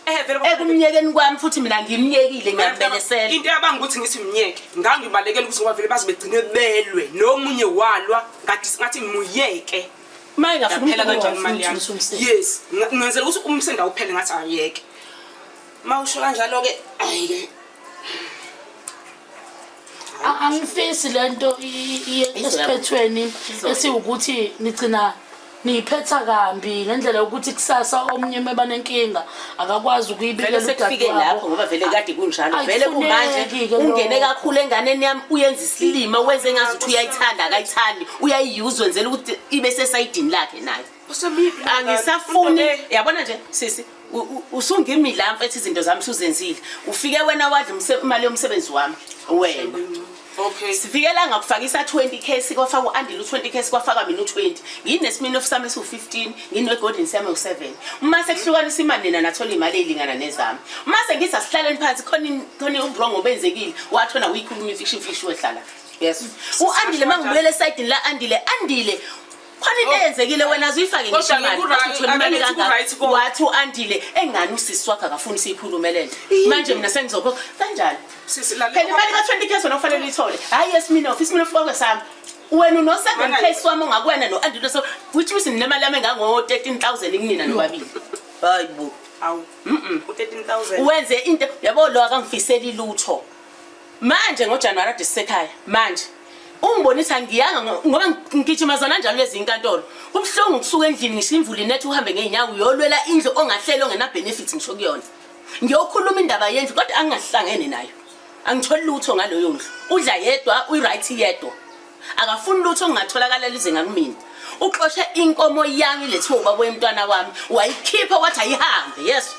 Eh vele ekumnyekeni kwami futhi mina ngimnyekile ngiyambelesela. Into yabanga ukuthi ngithi myeke. Ngangibalekela ukuthi ngoba vele baze begcine belwe nomunye walwa kade singathi ngimuyeke. Maye ngafuna phela kanjani imali yami. Yes, ngenzela ukuthi umsenda uphele ngathi ayeke. Mawusho kanjalo ke ayike. A- angifisi lento i- i- iye esiphethweni esiwukuthi nigcina niyiphetha kambi ngendlela yokuthi kusasa omunye uma banenkinga akakwazi vele ukuyibikela sekufike lapho ngoba vele kade kunjalo Ayi, vele kumanje kufuneki-ke ungene lokho. kakhulu enganeni yami uyenza isilima wenze ngazuthi uyayithanda akayithandi uyayiyuza wenzela ukuthi ibe sesayidini lakhe nayo angisafuni yabona nje sisi usungimi la mfethu izinto zami suzenzile ufike wena wadla imali yomsebenzi wami wena Okay. Sivikela ngakufakisa 20k sikwafaka uAndile u20k sikwafaka mina u20. Nginesimini ofisami esu15, nginwe Golden Sam u7. Uma sekuhlukanisa imali nina nathola imali elingana nezami. Uma sengisa sihlaleni phansi khona khona ubrongo obenzekile, wathola uyikhuluma ifiction fish wehlala. Yes. UAndile mangibuyele side la Andile, Andile khona into eyenzekile wena zuyifake Kodwa ngisho imali, ngiku-right, uthole imali ake kangaka. ngiku-right ko. wathi u-andile engani usisi wakhe akafuni siyikhulume le nto manje mina sengizokhokha kanjani Sisi, lalela. phela imali ka-twenty k wena kufanele uyithole hhayi yesminof isminof kwakwe sami wena uno-seven k swami ongakuwena no-andile so which means ninemali yami engango-thirteen thousand kunina nobabili hayi bo Awu. U-13,000. wenze into yabo lo akangifiseli lutho Manje ngoJanuary ade sisekhaya manje ungibonisa ngiyanga ngoba ngigijima zona njalo lezi inkantolo kubuhlungu ukusuka endlini ngisho imvula inetha uhambe ngeenyawo uyolwela indlu ongahlele ongena-benefit ngisho kuyona ngiyokhuluma indaba yendlu kodwa angingahlangene nayo angitholi lutho ngaloyo ndlu udla yedwa uyi-right yedwa akafuni lutho ngingatholakala lize ngakumina uxoshe inkomo yami lethiwa ubaba wemntwana wami wayikhipha wathi ayihambe yeso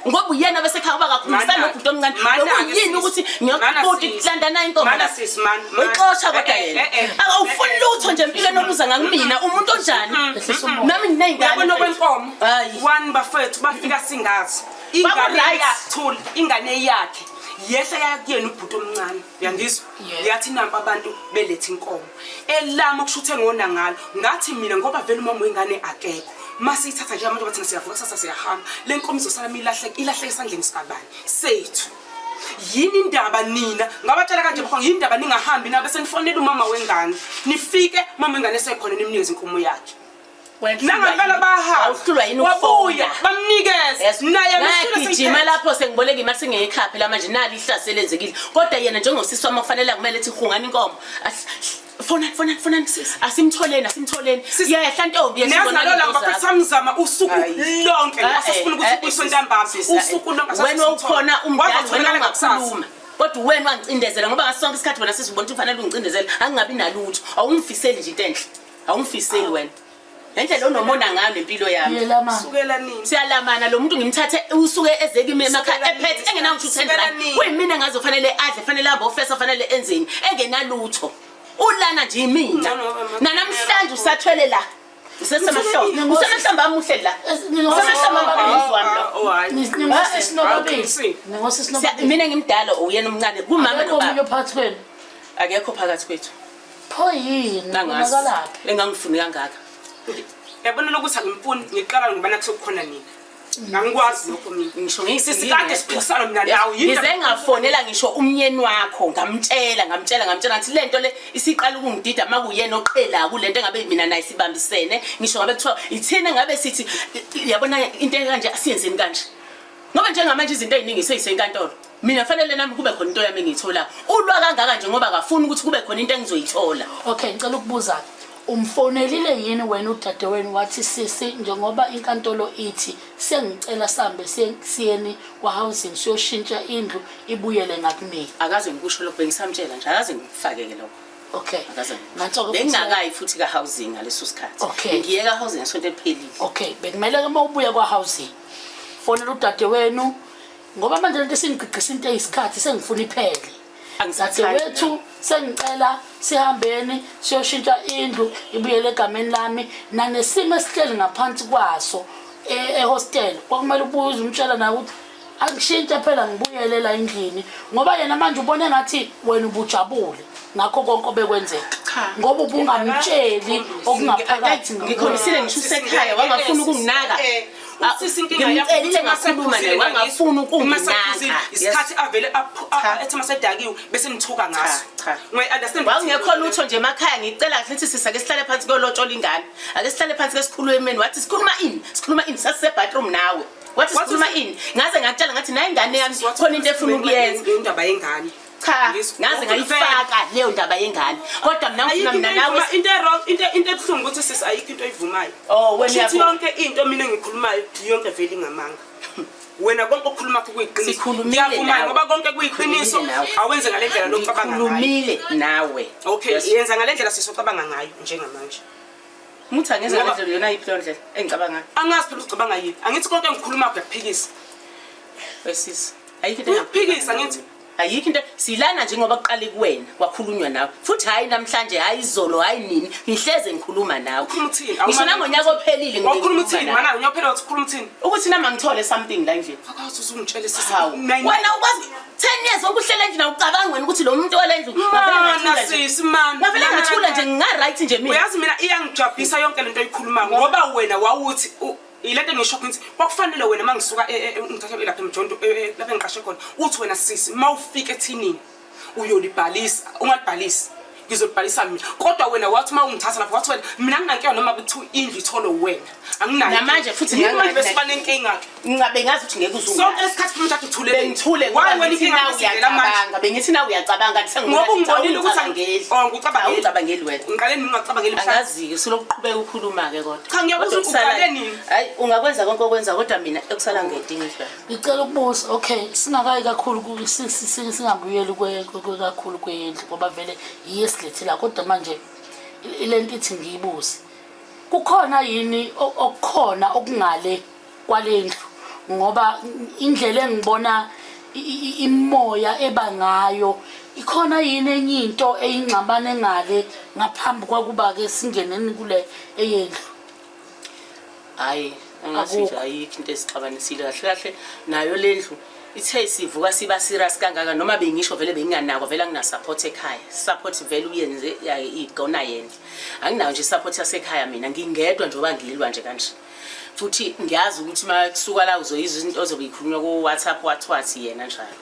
ngoba uyena bese khaya uba kakhulumisa nobhuti omncane lokuyini ukuthi ngiyakubhuti landana intombixosha kodwa eh, yena eh, eh, awufuni lutho nje empilweni oluza ngakumina umuntu onjani mm-hmm. nami ngineyngane okwenkomo one bafethu bafika singazi ingane yakhe ingane yakhe yehla yakuyena ubhuti omncane uyangizwa yathi nampa abantu beletha inkomo elama kushuthe ngona ngalo ngathi mina ngoba vele umama wengane akekho mase ithatha nje abantu bathina siyavuka kusasa siyahamba le nkomo izosala milahleka ilahleka esandleni sikabani sethu yini indaba nina ngabatshela kanje bafo yini indaba ningahambi nabe senifonela umama wengane nifike umama wengane esekhona nimnikeze inkomo yakhe nangempela bahawabuya bamnikezegijima lapho sengiboleka imali singeyikhaphe la manje nali ihlase elenzekile kodwa yena njengosisi wami okufanele kumele thi hungani inkomo fonani fonani fonani asimtholeni asimtholeni yehla ntombi yesamzama usuku lonke asifuna ukuthi ubuyiswe ntambama usuku lonke wena ukhona umdala wena ungakhuluma kodwa wena wangicindezela ngoba ngasonke isikhathi wena sesibona ukuthi kufanele ungicindezela angingabi nalutho awungifiseli nje into enhle awungifiseli wena ngendlela onomona ngayo nempilo yami sukela nini siyalamana lo muntu ngimthathe usuke ezeke emakhaya ephethe engenawuthi uthendrani kuyimina ngaze kufanele adle fanele ahambe ofesa fanele enzeni engenalutho ulana nje imina nanamhlanje usathwele la usesemahlombe usemahlombe amuhle la usemahlombe mina ngimdala uyena omncane kumama nobaba akekho phakathi kwethu Pho yini? Nangazi. Unakalaphi? Engangifune kangaka. Yabona lokuthi angimfuni ngiqala ngoba nathi sekukhona nina. Angikwazi lokho mina. Ngisho ngiyisisi Sisi kade siphikisana mina nawe. Yini Ngize ngafonela ngisho umnyeni wakho ngamtshela ngamtshela ngamtshela ngathi lento le isiqala ukungidida makuyena oqhela kulento engabe mina naye sibambisene ngisho ngabe kuthiwa ithina ngabe sithi yabona into ekanje asiyenzeni kanje ngoba njengamanje izinto eziningi seyisenkantolo mina fanele nami kube khona into yami engiyithola ulwa kangaka nje ngoba akafuni ukuthi kube khona into engizoyithola okay ngicela ukubuza umfonelile yini wena udade wenu wathi sisi njengoba inkantolo ithi sengicela sambe siyeni kwa-housing siyoshintsha indlu ibuyele ngakunini akaze ngikusho lokho bengisamtshela nje akaze ngikufakeke lokho okay bengingakayi futhi ka-housing ngaleso sikhathi ngiye ka-housing ngesonto eliphelile okay bekumele-ke uma ubuya kwa-housing fonela udade wenu ngoba manje lento singigqigqisa into eyisikhathi sengifuna iphele angisathi wethu sengicela sihambeni siyoshintsha indlu ibuyele egameni lami nanesimo esihleli ngaphansi kwaso e-, ehostel kwakumele ubuze umtshela naye ukuthi angishintshe phela ngibuyele la endlini ngoba yena manje ubone ngathi wena ubujabule ngakho konke obekwenzeka ngoba ubungamtsheli okungaphakathi ngikhombisile ngisho usekhaya wangafuna ukunginaka eh, Usisi inkinga yakho ngimcelile ngakhuluma naye wangafuni ukunginaka isikhathi avele ethi masedakiwe bese nithuka ngaso ngoy understand wawungekho lutho nje emakhaya ngicela kahle ukuthi sisa ke sihlale phansi kolotshola ingane ake sihlale phansi ke sikhulumeni wathi sikhuluma ini sikhuluma ini sasise bathroom nawe wathi sikhuluma ini ngaze ngakutshela ngathi nayi ingane yami khona into efuna ukuyenza indaba yengane cha ngaze ngayifaka leyo ndaba yengane kodwa mina ngifuna mina nawe into wrong into into ebuhlungu ukuthi sisi ayikho into oyivumayo oh wena yabo yonke into mina ngikhulumayo yonke vele ingamanga wena konke okukhuluma kho kuyiqiniso ngiyavuma ngoba konke kuyiqiniso awenze ngalendlela lokucabanga ngayo khulumile nawe okay yenza ngalendlela sisi ocabanga ngayo njengamanje Muthi angeze ngendlela yona iphi ndlela engicabanga ngayo. Angazi phela ucabanga yini. Angithi konke engikhuluma kuyaphikisa. Wesisi. Ayikho into. Uyaphikisa ngithi ayikho into silana njengoba kuqale kuwena kwakhulunywa nawe futhi hayi namhlanje hayi izolo hayi nini ngihleze ngikhuluma nawe ngisho nangonyaka ophelile ngikhuluma uthini mana unyaka ophelile uthi ukhuluma uthini ukuthi nama ngithole something la nje akathi uzungitshele sisi wena ukwazi 10 years okuhlela nje nawucabanga wena ukuthi lo muntu olendlu mana sisi mana ngavele ngathula nje nginga right nje mina uyazi mina iyangijabhisa yonke lento oyikhuluma ngoba wena wawuthi Ilento engisho ukuthi kwakufanele wena mangisuka e, e, e, ngithathe lapha emjonto lapha engiqashe khona uthi wena sisi mawufika ethinini uyolibhalisa ungalibhalisi ngizolibhalisa mina kodwa wena wathi uma ungithatha lapho wathi wena mina nginankinga noma kuthiwa indlu ithole wena anginayonamanje futhi besiba nenkinga-ke ngingabe ngazi ukuthi ngeke uzusonke esikhathi funa uthatha uthule ngithule ngobainkingauyacabanga bengithi na uyacabanga ngoba ungibonile ukuthi angeli oh, ngicabangeli wena ngiqale ningacabangeli Zike silokuqhubeka ukhuluma ke kodwa. Cha ngiyabuza ukuthi uqale nini? Hayi ungakwenza konke okwenza kodwa mina ekusala ngedinga ifa. Ngicela ukubuza okay singakayi kakhulu singabuyeli kwe kakhulu kwendlu ngoba vele yiye silethela kodwa manje lento ithi ngiyibuze. Kukhona yini okukhona okungale kwalendlu ngoba indlela engibona imoya eba ngayo ikhona yini enye into eyingxabane ngale ngaphambi kwakuba ke singeneni kule eyendlu hayi angathi nje ayikho into esixabanisile kahle kahle nayo lendlu ithe sivuka siba serious kangaka noma bengisho vele benginganakwa vele anginasupport ekhaya support vele uyenze igona yena anginayo nje support yasekhaya mina ngingedwa njengoba ngilwa nje kanje futhi ngiyazi ukuthi uma kusuka la uzoyizwa izinto ozobe ikhulunywa ku-whatsapp wathwathi yena njalo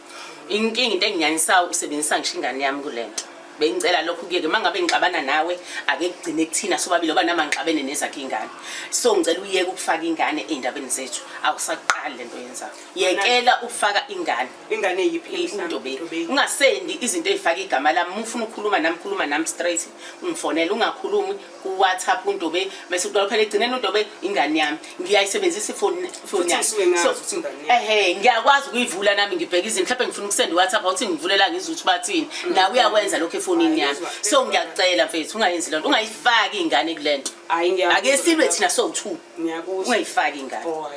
inkinga into enginyanyisayo usebenzisa ngisho ingane yami kule nto bengicela lokho kuyeke uma ngabe ngixabana nawe ake kugcine kuthina sobabili oba nama ngixabene nezakhe ingane so ngicela uyeke ukufaka ingane ey'ndabeni zethu awusaqali le nto yenzayo yekela ukufaka ingane ingane yiphiintobeni ungasendi izinto ey'faka igama lami uma ufuna ukukhuluma nami khuluma nami straight ungifonele ungakhulumi kuwhatsapp undobe mese udobe phela egcineni undobe ingane yami ngiyayisebenzisa ifoni ifoni yami ehe ngiyakwazi ukuyivula nami ngibheka izinto mhlawumbe ngifuna ukusenda iwhatsapp awuthi ngivulela ngizwe ukuthi bathini mm. nawe uyakwenza lokho efonini yami so ngiyakucela mfethu ungayenzi lento ungayifaki ingane kule nto ake silwe thina sowu-two ungayifaki ingane oh,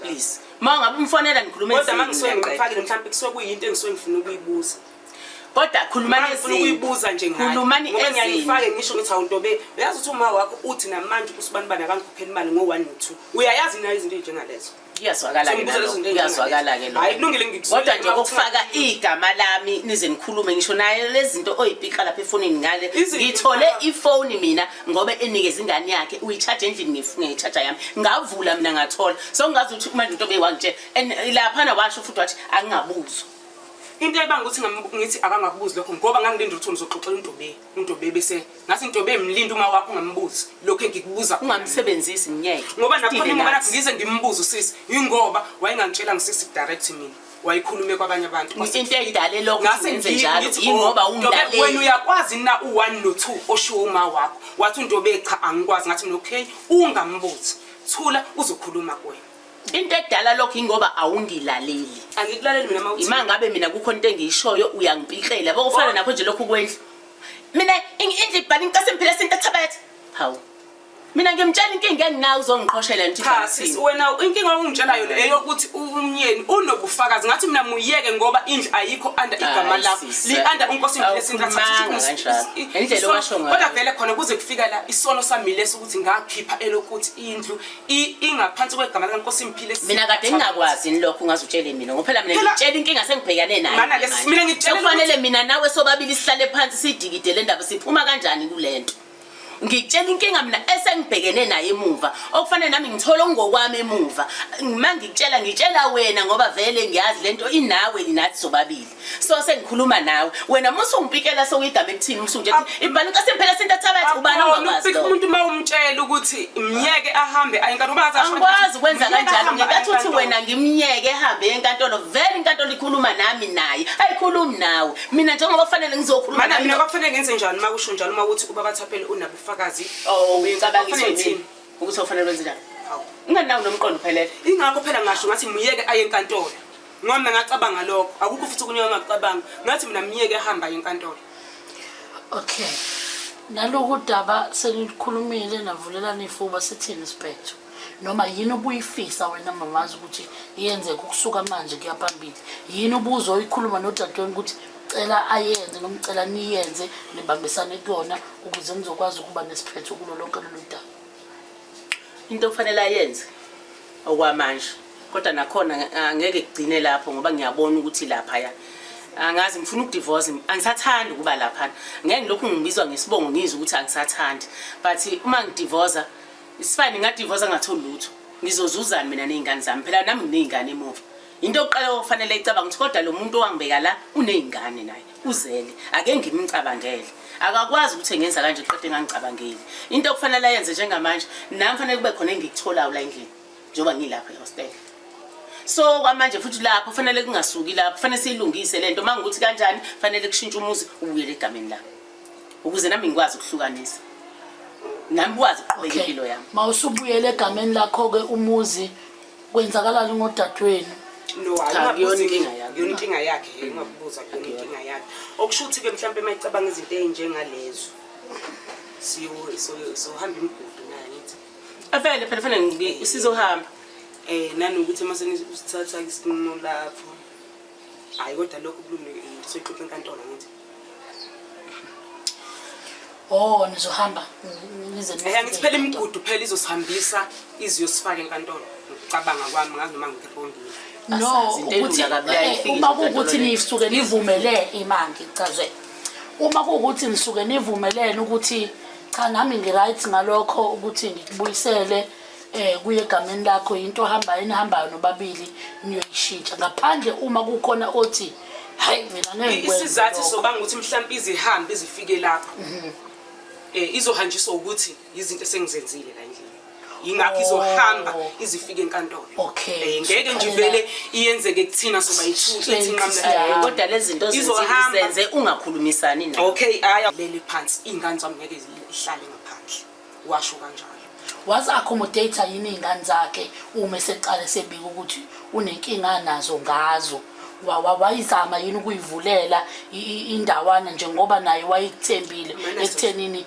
please ma ungabe umfonela nikhulume kodwa ma ngisuke ngifakile mhlawumbe kusuke kuyinto engisuke ngifuna ukuyibuza kodwa khulumani ngifuna ukuyibuza nje ngayo khulumani ngoba ngiyayifake ngisho ngithi awuntobe uyazi ukuthi uma wakho uthi namanje usibani bani akangikhokheli imali ngo 1 no 2 uyayazi nayo izinto ezinjengalezo kuyazwakala ke kuyazwakala ke hayi kulungile ngikusuka kodwa nje ukufaka igama lami nize nikhulume ngisho naye lezinto oyipika lapha efonini ngale ngithole ifoni mina ngoba enikeza ingane yakhe uyicharge endlini ngifunge ngicharge yami ngavula mina ngathola so ngazi ukuthi manje into beyiwangitshela and lapha na washo futhi wathi angingabuzwa into ebanga ukuthi ngithi akangakubuzi lokho ngoba ngangilinde ukuthi ngizoxoxela uNtobe uNtobe bese ngathi Ntobe mlinde uma wakho ungambuzi lokho engikubuza ungamsebenzisi ngeke ngoba nakhona ngoba nathi ngize ngimbuze usisi yingoba wayengangitshela ngisisi direct mina wayikhulume kwabanye abantu into edale lokho ngase njalo yingoba oh, umlaleli wena uyakwazi na u1 no2 oshiwo uma wakho wathi uNtobe cha angikwazi ngathi mina okay ungambuzi thula uzokhuluma kuwena into edala lokho ingoba awungilaleli angikulaleli mina mawuthi ima ngabe mina kukho into engiyishoyo uyangipikela yabo kufana nakho nje lokhu kwendlu mina indlu ibhala incase mphile sinto ethabatha hawu mina ngimtshela inkinga enginayo uzongiqhoshela nje cha sisi wena inkinga ongitshelayo le eyokuthi umnyeni unobufakazi ngathi mina muyeke ngoba indlu ayikho under igama lakho li under unkosi ngile sintathu indlela owasho ngayo kodwa vele khona kuze kufika la isono sami leso ukuthi ngakhipha elokuthi indlu ingaphansi kwegama likaNkosi Mphile mina kade ngingakwazi yini lokho ungaze utshele mina ngoba phela mina ngitshela inkinga sengibhekane nayo mana ke mina ngitshela kufanele mina nawe sobabili sihlale phansi sidikide le ndaba siphuma kanjani kulento ngitshela inkinga mina esengibhekene naye emuva okufanele nami ngithole ongokwami emuva uma ngikutshela ngitshela wena ngoba vele ngiyazi lento inawe nathi sobabili so sengikhuluma nawe wena musu ungipikela sewuyigama ekuthini musu nje ibani ka sempela sento thabathi ubani ongakwazi ukupika umuntu uma umtshela ukuthi myeke ahambe ayinkantolo uma athi angikwazi ukwenza kanjalo ngikathi uthi wena ngimyeke ehambe enkantolo vele inkantolo ikhuluma nami naye ayikhulumi nawe mina njengoba kufanele ngizokhuluma mana mina kwakufanele ngenze njani uma kusho njalo uma ukuthi ubaba thaphele unabufakazi oh uyicabanga ukuthi ukuthi ufanele wenze njani ingani nawo nomqondo phelele ingakho phela ngasho ngathi myeke aye enkantolo Ngombe ngacabanga lokho. Akukho futhi okunye engakucabanga. Ngathi mina myeke ehamba enkantolo. Okay. Naloku daba senikhulumile navulelana ifuba sithini sibhetho? Noma yini obuyifisa wena mamazi ukuthi yenzeke ukusuka manje kuya phambili? Yini ubuzo oyikhuluma nodadewenu ukuthi cela ayenze noma cela niyenze nibambisane kuyona ukuze nizokwazi ukuba nesiphetho kulo lonke lolu daba? Into okufanele ayenze okwamanje kodwa nakhona angeke kugcine lapho ngoba ngiyabona ukuthi laphaya angazi ngifuna ukudivorce angisathandi ukuba laphana ngeke ngilokhu ngibizwa ngesibongo ngizwe ukuthi angisathandi but uma ngidivoza isifane ngadivoza ngatholi lutho ngizozuzani mina ney'ngane zami phela nami nginey'ngane emuva into yokuqala okufanele icabanga ukuthi kodwa lo muntu owangibeka la uney'ngane naye uzele ake ngimcabangele akakwazi ukuthi engenza kanje qede engangicabangeli into okufanele ayenze njengamanje nami fanele kube khona engikutholayo la endlini njengoba ngilapha ehostel so kwamanje futhi lapho fanele kungasuki lapho fanele siyilungise lento uma ngikuthi kanjani fanele kushintshe umuzi ubuyele egameni lami ukuze nami ngikwazi ukuhlukanisa nami kwazi ukuqhubeka impilo yami ma usubuyele egameni lakho-ke umuzi kwenzakalani ngodadewenu yonkinga yakhe ungakubuza kuyona inkinga yakhe okusho ukuthi-ke mhlawumpe uma icabanga izinto ey'njengalezo siyohamba imigudu Avele phela fanele ngike usizohamba. Eh nanokuthi uma senisithatha isinqumo lapho. Hayi kodwa lokho kulungile soyixoxa enkantolo ngithi. Oh nizohamba nize nize. Eh ngithi phela imigudu phela izosihambisa iziyosifaka enkantolo. Ngicabanga kwami ngazi noma ngikho ngiyini. No ukuthi eh, uma kukuthi nisuke nivumele imanje cazwe. Uma kukuthi nisuke nivumelene ukuthi cha nami ngiright ngalokho ukuthi ngikubuyisele eh kuye egameni lakho into hamba enihambayo nobabili niyoyishintsha ngaphandle uma kukhona othi hayi mina ngeke ngikwenze isizathu lokho." sobanga ukuthi mhlawumbe izihambe izifike lapho eh izohanjiswa ukuthi izinto esengizenzile la endlini yingakho izohamba oh. izifike enkantolo okay eh, ngeke nje vele iyenzeke kuthina soba yithu ithi nqamla kodwa lezi zinto zenze ungakhulumisani nayo okay aya leli phansi ingane zami ngeke ihlale ngaphandle washo kanjalo was accommodate yini ingane zakhe uma seqale sebika ukuthi unenkinga nazo ngazo wayizama yini ukuyivulela indawana njengoba naye wayithembile ekuthenini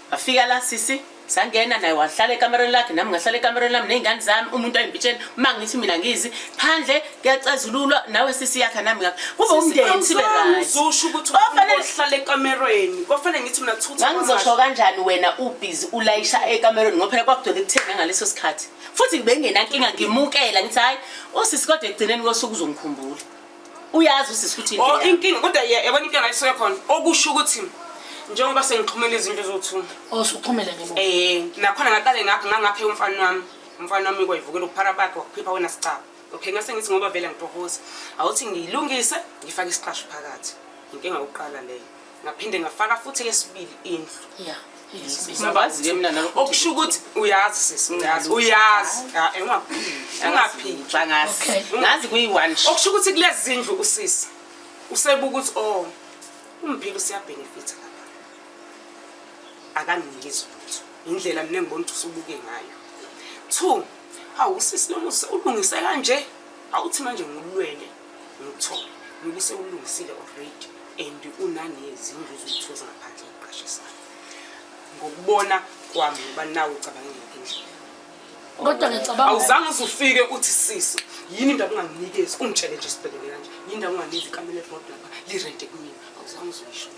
Ngafika la sisi sangena naye wahlala ekamereni lakhe nami ngahlala ekamereni lami ney'ngane zami umuntu ayimpitsheni uma ngithi mina ngizi phandle kuyacazululwa nawe sisi yakha nami ngakho kube umndeni sibe ngizosho ukuthi uhlala ekamereni kwafanele ngithi mina thutha ngangizosho kanjani wena ubhizi ulayisha ekamereni ngoba phela kwakudona ekuthenge ngaleso sikhathi futhi bengenankinga ngimukela ngithi hhayi usisi kodwa ekugcineni kosuku uzongikhumbula uyazi usisi ukuthi oh inkinga kodwa yabona inkinga isuke khona okusho ukuthi njengoba sengixhumela izinto ezothuma oh suxhumele nje eh nakhona ngaqale ngakho ngangakhe umfana wami umfana wami kwayivukela uphara bakhe wakuphipha wena sicaba okay ngase ngithi ngoba vele ngitohoza awuthi ngiyilungise ngifake isiqasho phakathi inkinga yokuqala leyo ngaphinde ngafaka futhi yesibili indlu yeah Mabazi-ke mina nalokho okusho ukuthi uyazi sisi ngiyazi uyazi engaphili ngazi kuyi-one okusho ukuthi kulezi zindlu usisi usebuka ukuthi o oh, umphile usiyabhenefitha lapha akanginiki izilutho indlela mina ngibona ukuthi usubuke ngayo two hawu usisi lomusa ulungise kanje awuthi manje ngulwele lutho ngoba usewulungisile already and unanezindlu zokutho zangaphandle eqashisayo ngokubona kwami ngoba nawe ucabanga ngakho endlela kodwa ngicabanga awuzange uzufike uthi sisi yini into unganginikezi ungitshele nje sibhekene kanje yini into unganginikezi ikamela ebhodini lapha lirente kumina awuzange uzuyisho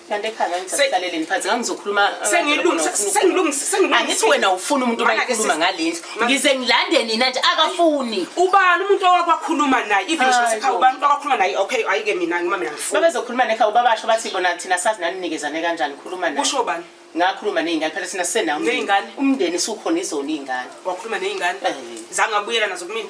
kanti ekhaya ngisakuhlaleleni phansi ngangizokhuluma uh, sengilungisisengithi wena ufuna umuntu obakhuluma ngale ndlu ngize ngilande nina nje akafuni ubani umuntu owakwakhuluma naye even ekhaya ubani umuntu owakhuluma naye okay ayike mina ngima mina ngifuna babezokhuluma nekhaya ubabasho bathi bona thina sazi naninikezane kanjani khuluma naye kusho bani ngakhuluma nezingane phela sina sena umndeni umndeni sukhona izona izingane wakhuluma nezingane eh. zange abuyela nazo kumina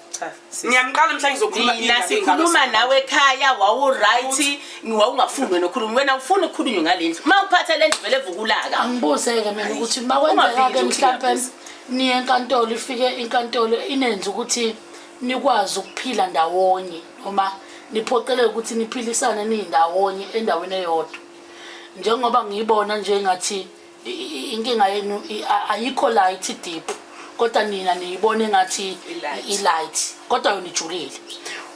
ngiyamqala mhla ngizokhulumana sikhuluma nawe ekhaya wawuright wawungafuni wena ukhuluma wena ufuna ukukhulunywa ngale ndlu uma uphatha le ndlu vele vukulaka angibuze-ke mina ukuthi uma kwenzeka-ke mhlawumpe niye enkantolo ifike inkantolo inenze ukuthi nikwazi ukuphila ndawonye noma niphoqeleke ukuthi niphilisane niyindawonye endaweni eyodwa njengoba ngiyibona nje ngathi inkinga yenu ayikho light deep kodwa nina niyibone ngathi i-light kodwa yona ijulile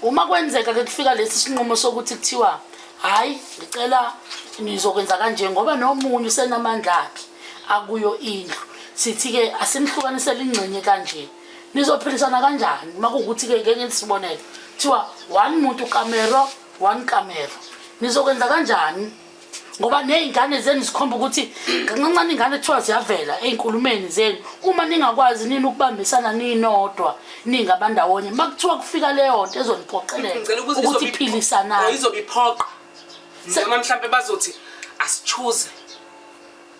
uma kwenzeka ke kufika lesi sinqumo sokuthi kuthiwa hhayi ngicela nizokwenza kanje ngoba nomunye usenamandla akhe akuyo indlu sithi-ke asimhlukanisele ingxenye kanje nizophilisana kanjani uma kuwukuthi-ke ngeke ngisibonele kuthiwa one muntu kamero one kamero nizokwenza kanjani ngoba ney'ngane zenu zikhomba ukuthi kancancane iy'ngane kuthiwa ziyavela ey'nkulumeni zenu uma ningakwazi nini ukubambisana ninodwa ningabandawonye uma kuthiwa kufika leyo nto ezoniphoqelela ukuthi philisanani izobe iphoqa noma mhlawumpe bazothi asichuze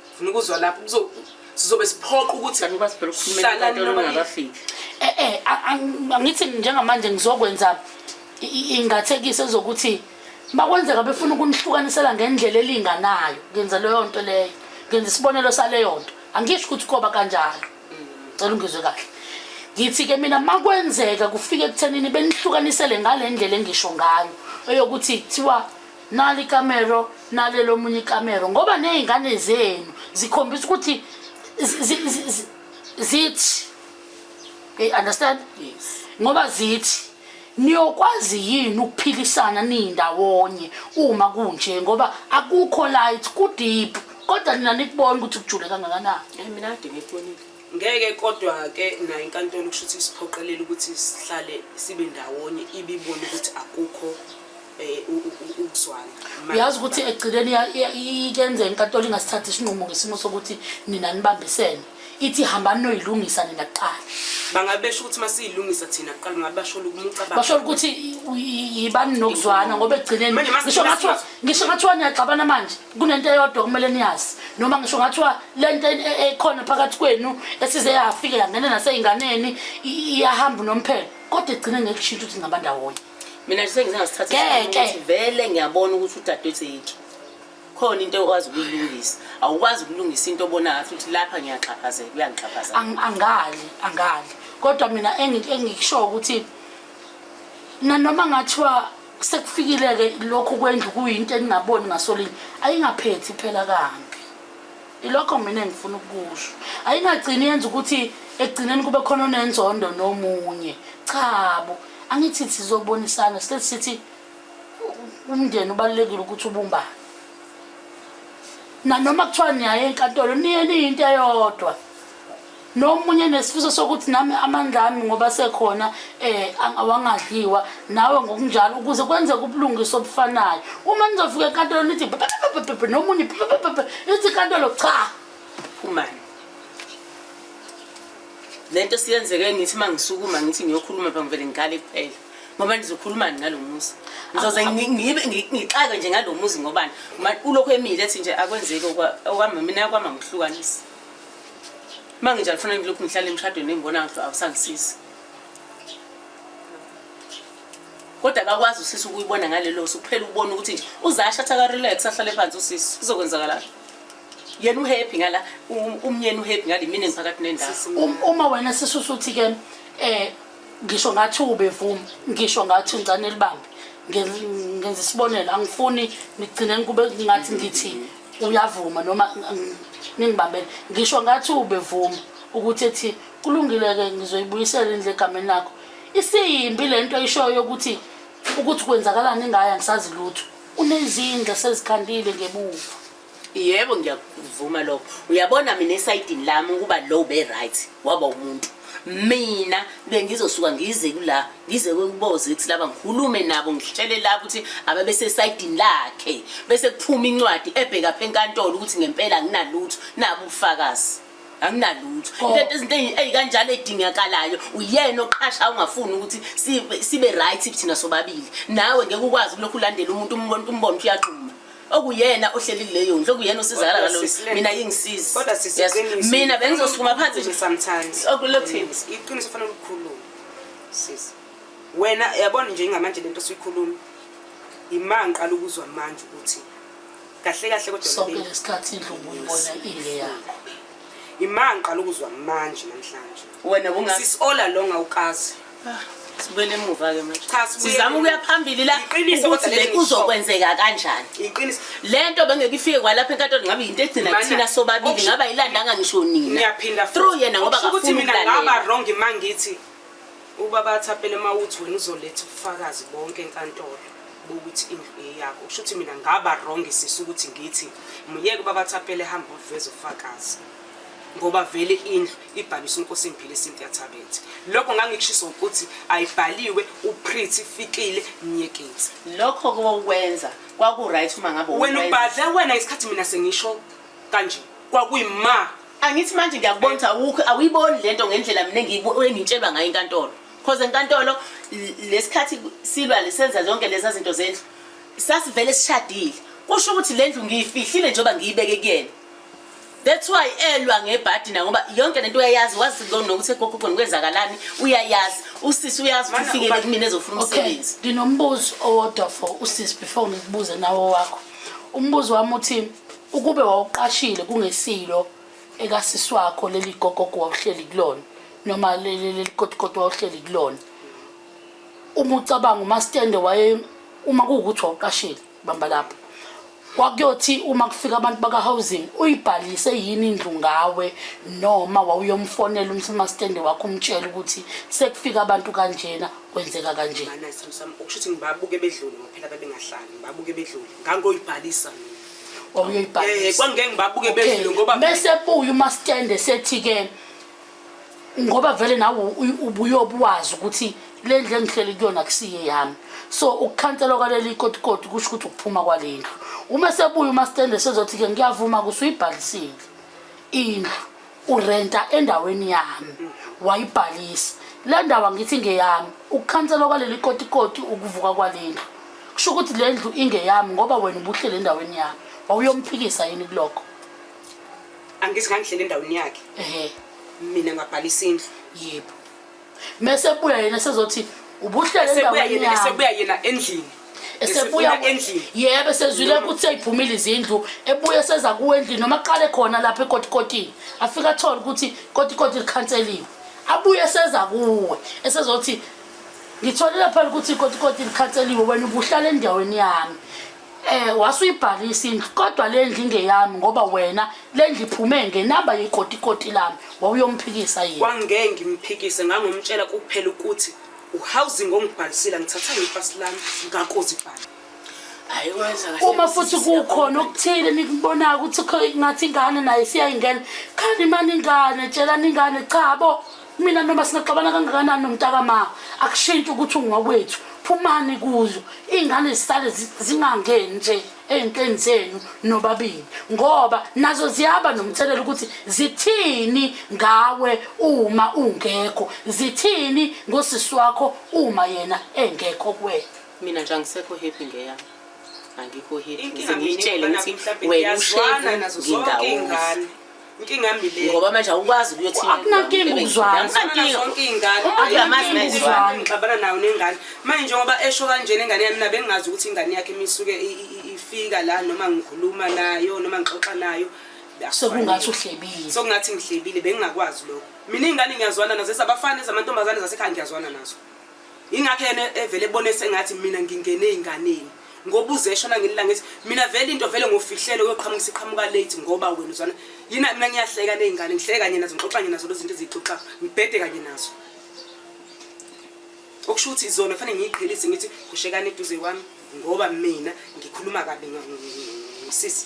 ngifuna ukuzwa lapho kuzo sizobe siphoqa ukuthi kanti kwazi phela ukukhulumela Hlala abantu noma- olungakafiki eh eh a- ang- angithi njengamanje ngizokwenza i- i- ingathekiso ezokuthi bakwenzeka befuna ukunihlukanisela ngendlela elinganayo ngenza leyo nto leyo ngenza isibonelo saleyo nto angisho ukuthi koba kanjalo cela ungizwe kahle ngithi-ke mina makwenzeka kufike ekuthenini benihlukanisele ngale ndlela engisho ngayo eyokuthi kuthiwa nali ikamero nale lomunye ikamero ngoba ney'ngane zenu zikhombisa ukuthi zithi you understand yes. ngoba zithi niyokwazi yini ukuphilisana niyindawonye uma kunje ngoba akukho light kudeep kodwa nina nikubona ukuthi kujule kangakanani eh, mina kade ngikubonile Ngeke kodwa ke nayo inkantolo kusho ukuthi isiphoqelele ukuthi sihlale sibe ndawonye ibibone ukuthi akukho eh, u- u- u- ukuzwana. Ma- uyazi ukuthi ekugcineni iya- iya- ikenzeka inkantolo ingasithathi isinqumo ngesimo sokuthi nina nibambisene ithi hambani noyilungisa nina kuqala bangabe besho ukuthi masiyilungisa thina kuqala ngabe basholo ukumucabanga basho ukuthi i- i- yibani nokuzwana ngoba ekugcineni Manje masi- ngisho ngathiwa masi- ngisho ngathiwa niyaxabana manje kunento eyodwa kumele niyazi noma ngisho ngathiwa le nto ekhona phakathi kwenu esize yafike yangena nasey'nganeni iyahamba unomphelo kodwa igcine ngekushintsha ukuthi ngaba ndawonye mina nje sengize ngasithathakuthi vele ngiyabona ukuthi udadewethu yikho khona into ekwazi ukuyilungisa awukwazi ukulungisa into obona ngathi ukuthi lapha ngiyaxhaphazela uyangixhaphazela angali angali kodwa mina engikushoyo ukuthi nanoma ngathiwa sekufikile-ke lokhu kwendlu kuyinto eningaboni ngasolinye ayingaphethi phela kambi ilokho mina engifuna ukukusho ayingagcini yenza ukuthi ekugcineni kube khona onenzondo nomunye chabo angithi sizobonisana sihlezi sithi umndeni ubalulekile ukuthi ubumbane nanoma kuthiwa niyaye enkantolo niye niyinto eyodwa nomunye nesifiso sokuthi nami amandla ami ngoba sekhona eh awangadliwa nawe ngokunjalo ukuze kwenzeke ubulungiswa obufanayo uma nizofika enkantolo nithi nomunye ithi inkantolo cha phumani lento siyenzeke ngithi uma ngisukuma ngithi ngiyokhuluma pha ngivele ngikale kuphela ngoba ndizokhulumani ngalo muzi ngizoze ngixake nje ngalo muzi ngobani ulokhu emile ethi nje akwenzeki okwami mina kwama ngihlukanisa uma nginjalo kufanele ngilokhu ngihlale emshadweni engibona ngathi awusangisizi kodwa akakwazi usisi ukuyibona ngalelo suku kuphela ukubona ukuthi nje uzasha athi akarelax ahlale phansi usisi kuzokwenzakalani yena uhappy ngala um- umyeni uhappy ngale mina engiphakathi nendawo Um- uma wena sisusa uthi ke eh ngisho ngathi ubevuma ngisho ngathi ngicane libambe Ngen- ngenza isibonelo angifuni nigcine kube ngathi ngithi uyavuma noma ningibambele ngisho ngathi ubevuma ukuthi ethi kulungile-ke ngizoyibuyisela indlu egameni lakho isiyimbi le nto ishoyo ukuthi ukuthi kwenzakalani ingaya ngisazi lutho unezindla sezikhandile ngebuva yebo ngiyakuvuma lokho uyabona mina esayidini lami ukuba lo ube-right waba umuntu mina bengizosuka ngize kula ngize kweKuboze kuthi laba ngikhulume nabo ngihitshele lapho ukuthi ababesesayidini lakhe bese kuphuma incwadi ebheka phe enkantolo ukuthi ngempela anginalutho nabo ubufakazi anginalutho oh. lento izinto ezikanjalo edingakalayo uyena oqhasha ungafuni ukuthi sibe right thina sobabili nawe ngeke ukwazi kulokhu ulandela umuntu umbona umuntu umbona uyaqhuma okuyena ohleli kuleyo ndlu okuyena usizakala Kodwa ngalo sisi, le- mina yingisizi Kodwa sisi Yes. iqiniso. mina bengizosukuma phansi nje sometimes. Okulothini. Iqiniso fanele ulikhulume. Sisi. Wena yabona nje ngamanje lento sikhuluma. Imanga qala ukuzwa manje ukuthi kahle kahle kodwa sonke lento- lesikhathi indlu ubuyibona ingeyakho Imanga qala ukuzwa manje namhlanje. wena bungazi sis all along awukazi ah, sibuyele emuva ke manje cha sizama ukuya phambili la ukuthi le kuzokwenzeka kanjani iqiniso lento bengeke ifike kwalapha enkantolo ngabe yinto egcina kuthina sobabili ngaba ilandanga ngisho nina ngiyaphinda through yena ngoba akafuni ukuthi mina ngaba wrong mangithi ubaba athapele mawuthi wena uzoletha ubufakazi bonke enkantolo bokuthi indlu eyakho kusho ukuthi mina ngaba wrong sisi ukuthi ngithi myeke ubaba athapele hamba uveze ufakazi ngoba vele indlu ibhaliswe uNkosimphihle Cynthia Thabethe. Lokho ngangikushiso ukuthi ayibhaliwe uPretty Fikile Nyekitsi. Lokho kokwenza kwaku right uma ngabe wena ubhadla wena ngesikhathi mina sengisho kanje kwakuyima angithi manje ngiyakubona ukuthi awukho awuyiboni lento ngendlela mina engitshelwa ngayo inkantolo because enkantolo lesikhathi silwa lisenza zonke lezi zinto zendlu sasivele sishadile kusho ukuthi lendlu ngiyifihlile njengoba ngiyibeke kuyena That's why elwa ngebhadi na ngoba yonke lento uyayazi wazi lona ukuthi egogo khona kwenzakalani uyayazi usisi uyazi ukuthi ufikele kumina ezofuna Okay, umsebenzi. nginombuzo owodwa for usisi before ngikubuze nawo wakho. Umbuzo wami uthi ukube wawuqashile kungesilo ekasisi wakho leli gogogo wawuhleli kulona noma leli leli godugodu wawuhleli kulona. Uma ucabanga uma stende waye uma kuwukuthi wawuqashile bamba lapho kwakuyothi uma kufika abantu baka-housing uyibhalise yini indlu ngawe noma wawuyomfonela umsemastende wakho umtshela ukuthi sekufika abantu kanjena kwenzeka kanjena ukusho ukuthi ngibabuke bedlule ngophela bebengahlali ngibabuke bedlule ngangoyibhalisa mina eh, kwangeke ngibabuke bedlule ngoba bese buye umastende sethi-ke ngoba vele nawe ubuyobe wazi ukuthi le ndlu engihleli kuyona kusiye yami so ukukhanselwa kwaleli ikotikoti kusho ukuthi ukuphuma kwale ndlu uma sebuye umastende sezothi-ke ngiyavuma kusuyibhalisile indlu urenta endaweni yami wayibhalisa le ndawo angithi ngeyami ukukhanselwa kwaleli kotikoti ukuvuka kwale ndlu kusho ukuthi le ndlu ingeyami ngoba wena ubuhlele endaweni yami wawuyomphikisa yini kulokho angithi ngangihlele endaweni yakhe ehe mina ngabhalisa indlu yebo mese buya yena sezothi ubuhlele esebuya endaweni yena yami esebuya yena endlini esebuya Esefuna endlini yebo esezwile ukuthi seyiphumile izindlu ebuya seza kuwe endlini noma qale khona lapha ekotikotini afika athole ukuthi kotikoti likhanseliwe abuye seza kuwe esezothi ngitholile phela ukuthi ikotikoti likhanseliwe wena ubuhlala endaweni yami Eh wasuyibhalisa indlu kodwa le ndlu ingeyami ngoba wena le ndlu iphume ngenamba yekotikoti lami wawuyomphikisa yini. Kwangeke ngimphikise ngangomtshela kuphela ukuthi uhousing ongibhalisile ngithatha ngipasi lami ngakozibhala. Hayi wenza kahle. Uma futhi kukhona okuthile nikubonayo ukuthi kho- ngathi ingane nayo isiyayingena khani mani ingane tshelani ingane cha bo mina noma singaxabana kangakanani nomntakama akushintshi ukuthi ungokwethu phumani kuzo iy'ngane zisale zingangeni nje ey'ntweni zenu nobabili ngoba nazo ziyaba nomthelela ukuthi zithini ngawe uma ungekho zithini ngosisi wakho uma yena engekho kuwena mina nje angisekho happy ngeyami angikho happy ngizengiyitshele ukuthi wena ushezi ngindawonga inkinga yami le ngoba manje awukwazi ukuyothina akunankinga ukuzwana zonke iy'ngane ngixabana nayo nengane manje njengoba esho kanjena ingane yami nabe ngingazi ukuthi ingane yakhe misuke ifika la noma ngikhuluma nayo noma ngixoxa nayo sokungathi uhlebile sokungathi ngihlebile bengingakwazi lokho mina iy'ngane ngiyazwana nazo ezabafana ezamantombazane zasekhaya ngiyazwana nazo ingakho yena evele ebone sengathi mina ngingene ey'nganeni ngoba uzeshona ngelila ngithi mina vele into vele ngofihlele uyoqhamuka isiqhamuka late ngoba wena uzwana yina mina ngiyahleka ney'ngane ngihleke kanye nazo ngixoxa kanye nazo lezinto eziyixoxa ngibhede kanye nazo okusho ukuthi izona fanele ngiyiqhelise ngithi kushekani eduze kwami ngoba mina ngikhuluma kabi sisi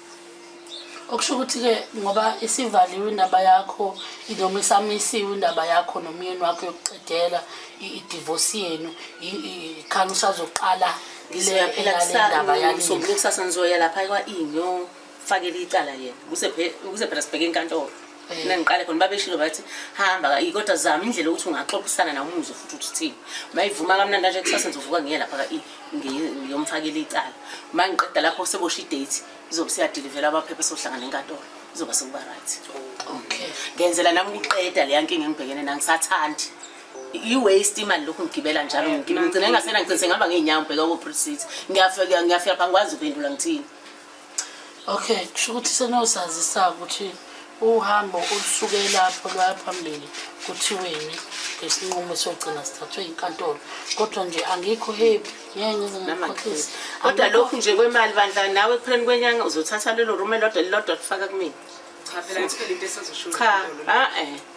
okusho ukuthi-ke ngoba isivaliwe indaba yakho noma isamisiwe indaba yakho nomyeni wakho yokuqedela idivosi yenu khani usazoqala ndaba yakusasa ngizoya lapha kwa-inyo fakele icala yena kuze phela sibheke inkantolo mina ngiqale khona babeshilo bathi hamba kodwa zama indlela ukuthi ungaxoxisana nawo umuzwe futhi ukuthi uthini uma ivuma kamnandi kanje kusasa ngizovuka ngiye lapha ngiyomfakela icala uma ngiqeda lapho sebosha idate izobe siyadilivela abaphepha sohlangana enkantolo izoba sekuba right okay ngenzela nami ukuqeda leya nkinga engibhekene nangisathandi i-waste imali lokhu ngigibela njalo ngigcina ngingasena ngicinise ngihamba ngey'nyawo ngibheka ko-precit ngiyafika ngiyafika pha ngikwazi ukuphendula ngithini okay kusho ukuthi senosazisa ukuthi uhambo olusuke lapho lwaya phambili kuthiweni ngesinqumo sogcina sithathwe inkantolo kodwa nje angikho happy ngeke ngize ngikhohlise kodwa lokhu nje kwemali bandla nawe ekupheleni kwenyanga uzothatha lelo rume lodwa lilodwa kufaka kumina cha phela ngithole into esazosho cha a-e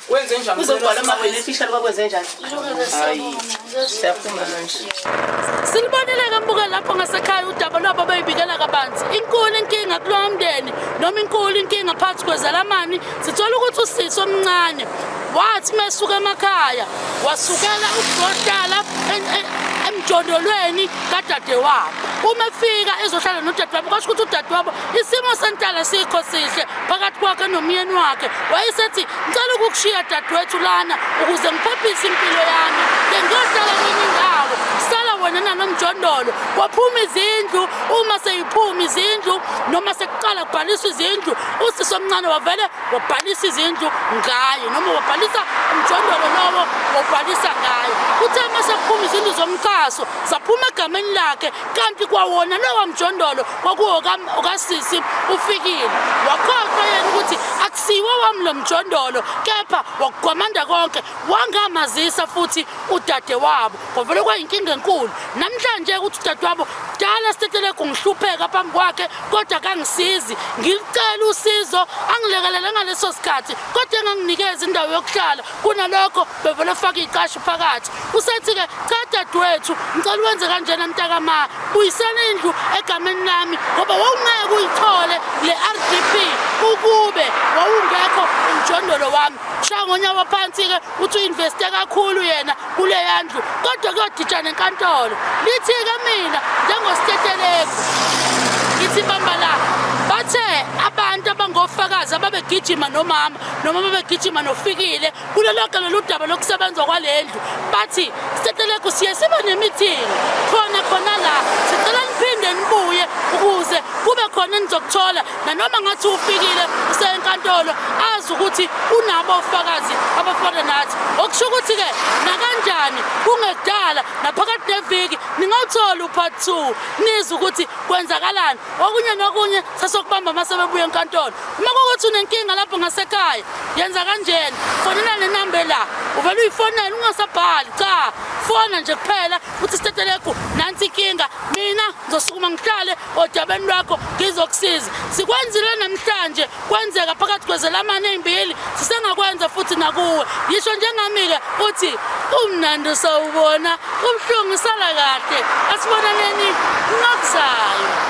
Kwenzenjani? Uzogcwala uma wena efisha loba kwenzenjani? Hayi. Siyaphuma manje. Silibonile ke mbuke lapho ngasekhaya udaba lwabo beyibikela kabanzi. Inkulu inkinga kulowo mndeni noma inkulu inkinga phakathi kwezalamani sithola ukuthi usisi omncane wathi mesuka emakhaya wasukela ukudodala emjondolweni kadadewabo. Uma efika ezohlala nodadewabo kwasho ukuthi udadewabo Isimo sentala sikho sihle phakathi kwakhe nomyeni wakhe. Wayesethi, "Ngicela ukukushiya dadewethu lana ukuze ngiphephise impilo yami. Bengiyohlala kwenye indawo." Sala wena nanomjondolo. Kwaphuma izindlu, uma seyiphuma izindlu noma sekuqala kubhaliswa izindlu, usisi omncane wavele wabhalisa izindlu ngaye noma wabhalisa umjondolo lowo wabhalisa ngaye. Uthe uma sekuphuma izindlu zomqaso, zaphuma egameni lakhe kanti kwawona lowa mjondolo kwakuwokasisi ufikile wakhohlwa yena ukuthi akusiwo wami lo mjondolo kepha wakugwamanda konke wangamazisa futhi udade wabo kwavele kwayinkinga enkulu namhlanje ukuthi udade wabo kudala sitetelegu ngihlupheka phambi kwakhe kodwa kangisizi ngilicela usizo angilekelele ngaleso sikhathi kodwa enganginikeza indawo yokuhlala kunalokho bevele ufake iy'qashi phakathi usethi-ke cha dadewethu ngicela uwenze kanjena mntakama buyisela indlu egameni lami ngoba wawungeke uyithole le r d p ukube wawungekho umjondolo wami shaya ngonyawo phansi-ke uthi uinveste kakhulu yena kuleya ndlu kodwa kuyoditsha nenkantolo lithi-ke mina njengosteteleki ngithi bamba la bathe abantu abangofakazi ababegijima nomama noma babegijima nofikile kulo lonke lolu daba lokusebenza kwale ndlu bathi stetelegu siye siba nemithingi khona khona la sicela niphinde nibuye ukuze kube khona enizokuthola nanoma ngathi ufikile usenkantolo azi ukuthi unabo ofakazi abafana nathi okusho ukuthi-ke nakanjani kungekudala naphakathi neviki ningawutholi upart two nizwe ukuthi kwenzakalani okunye nokunye sasokubamba uma sebebuya enkantolo uma kokuthi unenkinga lapho ngasekhaya yenza kanjena fonela le number la uvele uyifonele ungasabhali cha fona nje kuphela uthi sitetelegu nansi inkinga mina ngizosukuma ngihlale odabeni lwakho ngizokusiza sikwenzile namhlanje kwenzeka phakathi kwezelamane ezimbili sisengakwenza futhi nakuwe yisho njengami-ke uthi umnandi usawubona ubuhlungu usala kahle asibonaneni nokuzayo